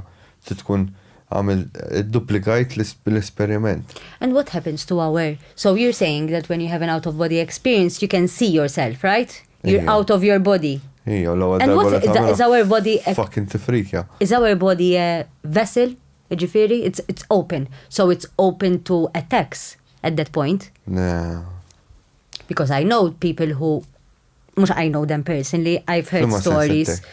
trid tkun għamilt, iddupplikajt l-esperiment. And what happens to our, so you're saying that when you have an out of body experience you can see yourself, right? You're out of your body. Ija, u l-ewwel And darba li what, tagħmilha, is our body a, fucking tifrikja. is our body a vessel, jiġifieri it's, it's open, so it's open to attacks at that point? Le. Because I know people who mux I know them personally, I've heard Flimma stories. Sensitek.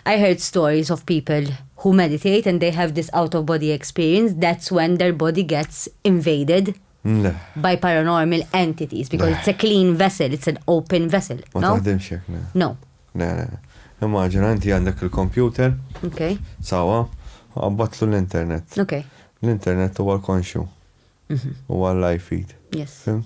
I heard stories of people who meditate and they have this out of body experience. That's when their body gets invaded Le. by paranormal entities because Le. it's a clean vessel, it's an open vessel. Ma no? taħdimx jek, ne. No. Ne, ne. Immaġina, inti għandek il-computer. Ok. Sawa, għabbatlu l-internet. Ok. L-internet huwa l-konxju. Mhm. Huwa l-live feed. Yes. Fim?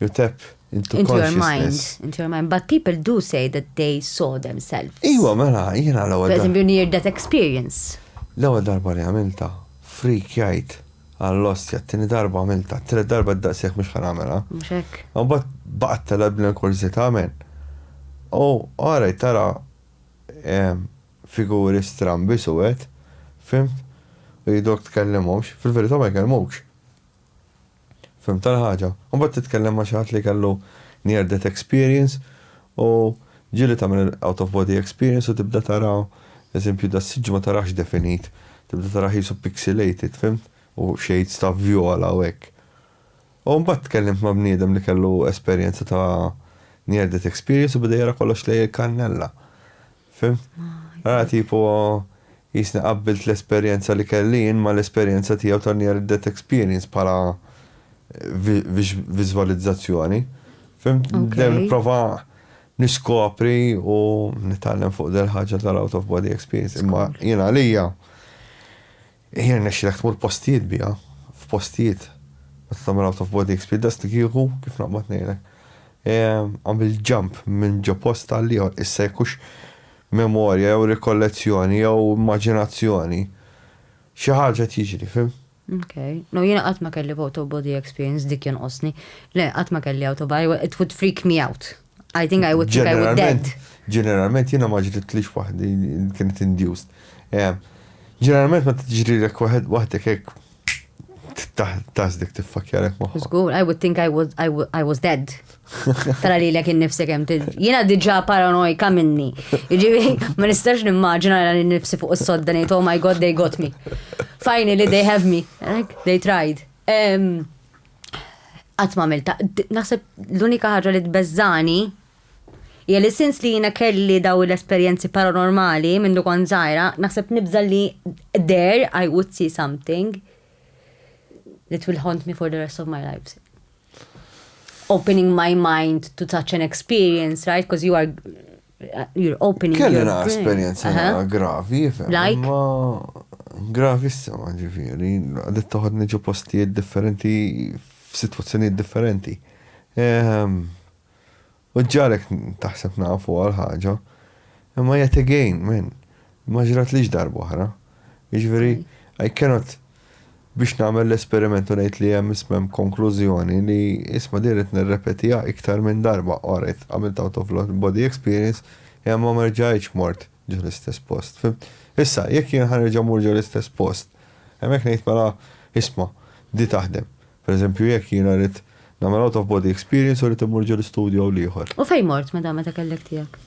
You tap into, into your mind. Into your mind. But people do say that they saw themselves. Iwa, mela, jina l għoda. Per esempio, near that experience. l għoda darba li għamilta, freak jajt, għall-ostja, t-tini darba għamilta, t-tini darba d-daqsieħ mux għamela. Mxek. Għabat baqt tal-abna kurzita għamen. U għara tara figuri strambi suwet, fimt, u jidok t-kellimomx, fil-verita ma jkellimomx. Fhimtha l-ħaġa. Imbagħad titkellem ma' xi ħadd li kellu near death experience u ġieli tagħmel il-out of body experience u tibda tara eżempju das-siġġu ma tarax definit, tibda tarah qisu pixelated, fhimt? U shades ta' vjola u hekk. U mbagħad tkellimt ma' bniedem li kellu esperjenza ta' near death experience u beda jara kollox lejn il-kannella. Fimt? Ara tipo jisni qabbilt l-esperjenza li kelli jien ma l-esperjenza tiegħu ta' near death experience bħala viżwalizzazzjoni. Fimt? Dejjem nipprova niskopri u nitgħallem fuq del ħaġa tal-out of body experience. Imma jien għalija Hi jirnexxilek tmur postijiet biha, f'postijiet meta tagħmel out of body experience daqs li kieku, kif naqbad ngħidlek, għamilt jump minn ġo post għal ieħor, issa jekk hux memorja jew rikollezzjoni jew immaġinazzjoni, xi ħaġa qed jiġri, fhimt? Ok. No, jiena qatt ma kelli out of body experience dik jonqosni. Le, qatt ma kelli out of body, it would freak me out. I think I would think I would dead. Ġeneralment jiena ma ġritlix waħdi kienet induced. Eh, ġeneralment ma tiġrilek waħed waħdek hekk taħsdek tiffakjarek moħħok. Żgur, I would think I was, I, w- I was dead. Tara li l-ek innifsi kem Jena diġa paranoika minni. Ġivi, ma nistax nimmaġina li nifsi fuq s-sodda nejt, oh my god, they got me. Finally, they have me. Like, they tried. Um, qatt ma għamilta. Naħseb l-unika ħaġa li tbeżżani hija li sins li jiena kelli daw l-esperjenzi paranormali minn dukon żgħira, naħseb nibża li there I would see something that will haunt me for the rest of my lives. Opening my mind to such an experience, right? Because you are You're opening your Kelli naqra esperjenza Aha. naqra gravi, fem. Like? Ma gravissima ġifieri, għadet toħodni ġo postijiet differenti f'sitwazzjonijiet differenti. Ehm, U ġarek taħseb nafu għal ħaġa, imma yet again, men, ma ġrat lix darba oħra. Jiġifieri, I cannot biex nagħmel l-esperiment u ngħid li hemm isma' hemm konklużjoni li isma' din qed nirrepetiha iktar minn darba, all right, għamilt out of body experience, imma ma rġajtx mort ġo l-istess post. Fimt? Issa, jekk jien ħa nerġa' mmur ġo l-istess post, hemmhekk ngħid mela, isma', di taħdem. Per eżempju jekk jiena rrid nagħmel out of body experience u rrid immur ġo l-istudju hawn l-ieħor. U fejn mort meta meta kellek tiegħek?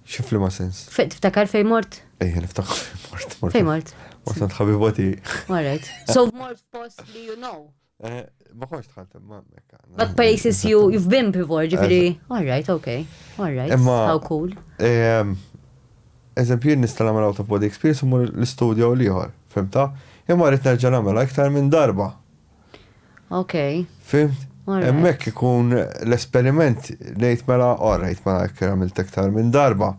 Xi f'liema sens? Tiftakar fejn mort? Ejja niftakar fejn mort. Fejn mort? Mort għand ħabiba tiegħi. All right. So mort post li you know. Eh, ma konx tħalt imma hemmhekk. But places you you've been before, ġifieri. All right, okay. All right. Imma how cool. Ehm, eżempju nista' nagħmel out of body experience u mur l-istudju l-ieħor, fimta? Imma rrid nerġa' nagħmel iktar minn darba. Ok. Fimt? Emmek ikun l-esperiment nejt mela orrejt mela kera mil tektar minn darba.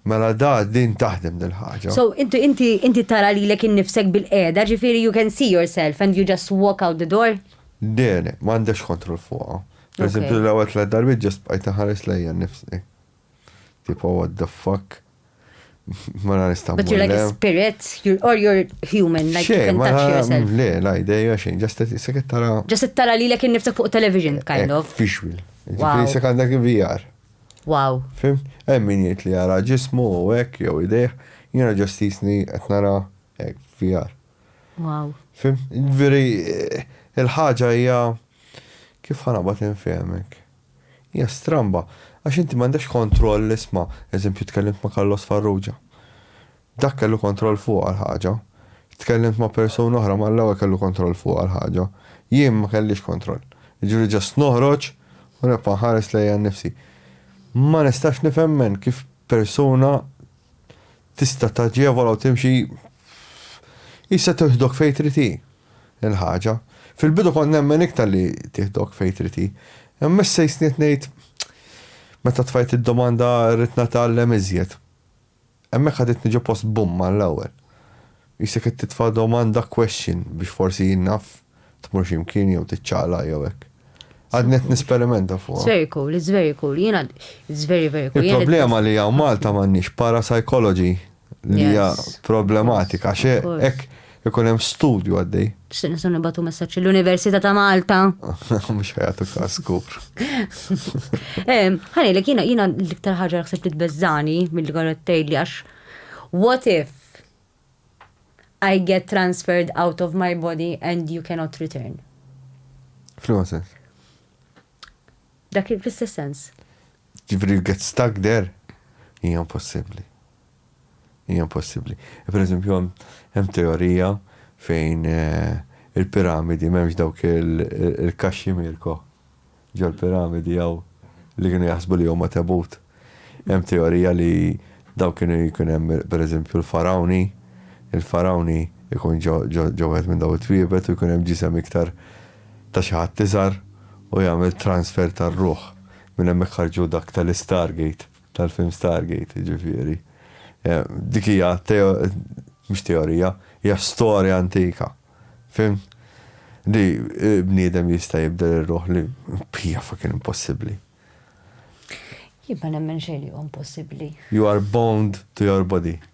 Mela da din taħdem dil-ħagġa. So, inti, inti, inti tara li l-ek innifsek bil-qeda, ġifiri you can see yourself and you just walk out the door? Dene, mandex kontrol fuqa. Per esempio, l-għawet l-darbi ġast bqajt nħares lejja nifsi. Tipo what the fuck? Ma nara nista' But you're like a spirit, you're, or you're human, like you can touch yourself. Le, la ideja xejn, just sekket tara. Just tara li l-ek niftak fuq television, kind of. Visual. Ġifiri sekk dak VR. Wow. Fim? Hemm min jgħid li jara ġismu u hekk jew idejh, jiena ġost jisni qed nara hekk VR. Wow. Fim? Veri eh, il-ħaġa hija kif ħana bat infehmek. Hija stramba, għax inti m'għandekx kontroll isma', eżempju tkellimt ma' Carlos Farrugia. Dak kellu kontroll fuqha l-ħaġa. Tkellimt ma' persuna oħra mal-ewwel kellu kontroll fuqha l-ħaġa. Jien ma kellix kontroll. Jiġifieri just noħroġ u nibqa' nħares lejja nnifsi. Ma nistax nifhemmen kif persuna tista' taġevola u timxi qisha tiħdok fejn trid hi. il-ħaġa. Fil-bidu kont nemmen iktar li tieħdok fejn trid hi. Imma issa jistni qed ngħid, meta tfajt id-domanda rrid nagħtgħallem iżjed. Hemmhekk ħaditni ġo post bum mal-ewwel. Qisek qed titfa' domanda question biex forsi, naf, tmur xi mkien jew tiċċaqlaq jew hekk. Għadni qed nisperimenta fuqha. It's very cool, it's very cool. Jiena it's very very cool. Il-problema li hawn Malta m'għandniex parapsychology li hija problematika xe hekk ikun hemm studju għaddej. Xtieq nistgħu nibatu messaġġ l-Università ta' Malta. Mhux ħajatu każ kur. Ħani li kiena jiena l-iktar ħaġa ħseb li tbeżżani mill konet tgħidli għax what if I get transferred out of my body and you cannot return. Fl-ma sens? Dak fl-istess sens. Jiġifieri li get stuck there? Hija impossibbli. Hija impossibbli. Per eżempju hemm teorija fejn il-piramidi m'hemmx dawk il-kaxxi Mirko. Ġol-piramidi hawn li kienu jaħsbu li huma tebut. Hemm teorija li dawn kienu jkun hemm per eżempju l-farawni, il-farawni jkun ġo wieħed minn dawn it-twiebet u jkun hemm ġisem iktar ta' xi ħadd iżgħar u jagħmel transfer tar-ruħ. Minn hemmhekk ħarġu dak tal-Istargate, tal-film Stargate, jiġifieri. Dik hija mhux teorija, hija storja antika. Fim? Li bniedem jista' jibdel ir-ruħ li hija fucking impossibbli. Jien ma nemmen xejn li huwa impossibbli. You are bound to your body.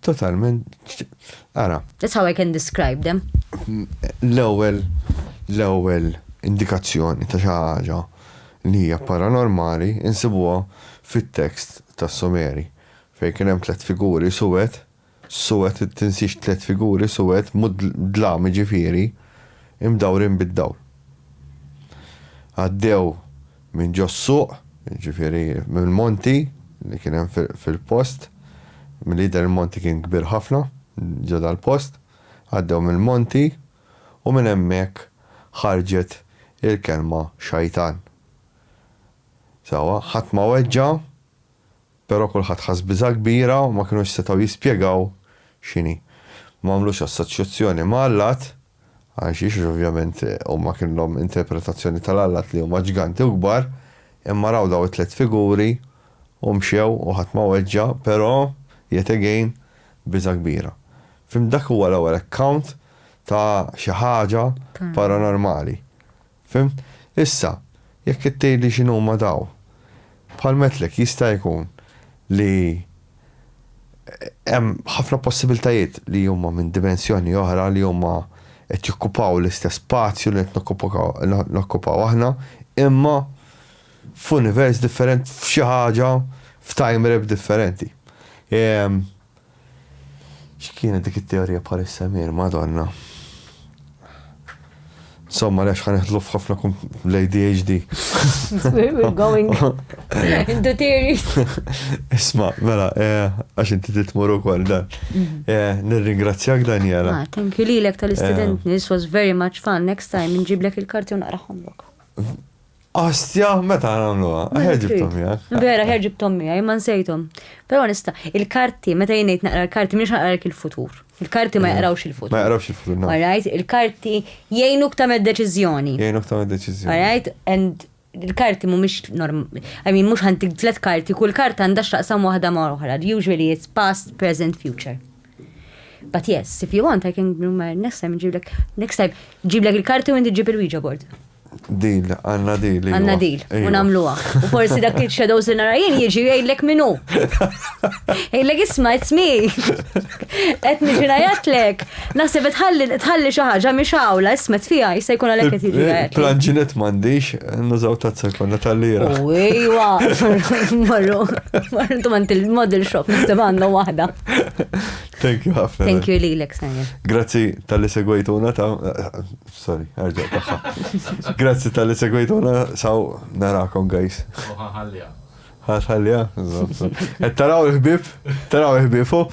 Totalment, ara. That's how I can describe them. L-ewwel, l-ewwel indikazzjoni ta' xi ħaġa li hija paranormali insibuha fit-tekst tas-Sumeri fejn kien hemm tliet figuri suwed, suwed tinsiex tliet figuri suwed mhu dlam jiġifieri, imdawrin bid-dawl. Għaddew minn ġos-suq, jiġifieri mill-monti li kien hemm fil-post, milli jidher il-monti kien kbir ħafna ġo dal-post, għaddew mill-monti u minn hemmhekk ħarġet il-kelma xajtan. Sewwa, ħadd ma weġġa' Però kulħadd ħass biża' kbira u ma kinux setgħu jispjegaw x'inhi. M'għamlux assoċjazzjoni ma' allat, għalxiex għax ovvjament huma kinlhom interpretazzjoni tal-allat li huma ġganti u kbar, imma raw daw it-tliet figuri u mxew u ħadd ma weġġa', però, yet again, biża' kbira. Fhimt dak huwa l-ewwel account ta' xi ħaġa paranormali. Fhimt? Issa, jekk qed tgħidli x'inhuma dawn, bħal mgħedtlek jista' jkun li hemm ħafna possibiltajiet li huma minn dimensjoni oħra li huma qed jokkupaw l-istess spazju li qed nokkupaw aħna, imma f'univers differenti, f'xi ħaġa, f'time rep differenti. X'kienet dik it-teorija bħal is-semir, Madonna! Insomma, għaliex ħa neħdlu f'ħafna kum l-ADHD. We're going into theories. Isma, mela, eh, għax inti titmur ukoll dan. Mhm. Eh, nirringrazzjak Daniela. Ah, thank you lilek tal-istudentni, eh. this was very much fun. Next time nġiblek il-karti u naqraħomlok. Ostja, meta għamluha? Ħer ġibtom miegħek. Vera, ħer ġibtom miegħi, ma nsejtom. Però nista, il-karti, meta jnejt naqra l-karti, mhix naqralek il-futur. Il-karti ma jaqrawx il-futur. Ma jaqrawx il-futur, no. Alright, il-karti jgħinuk tagħmel deċiżjoni. Jgħinuk tagħmel deċiżjoni. Alright, and il-karti mhumiex norm, I mean mhux ħantik tliet karti, kull karta għandha x'taqsam waħda ma' oħra. Usually it's past, present, future. But yes, if you want, I can do my next time ġiblek. Next time, ġiblek il-karti u inti ġib il-Ouija board. Dil, għanna dil. Għanna dil, u namluwa. U forsi dak il-shadows li nara jien jieġi jgħidlek minu. Jgħidlek isma, it's me. Et miġina jatlek. Nasib tħalli tħalli xaħġa mi xawla, isma tfija, jista jkun għalek et jgħidlek. Eh, eh, Planġinet mandiċ, nużaw tazza konna tal-lira. Ujwa, marru, marru, tu manti il-model shop, nisib għandu wahda. Thank you ħafna. Thank you li l-ek Grazzi tal-li segwejtuna ta' sorry, arġa taħħa. Grazzi tal-li segwejtuna saw narakom guys. Ħalja. Ħalja. Et taraw il-ħbib, taraw il-ħbifu.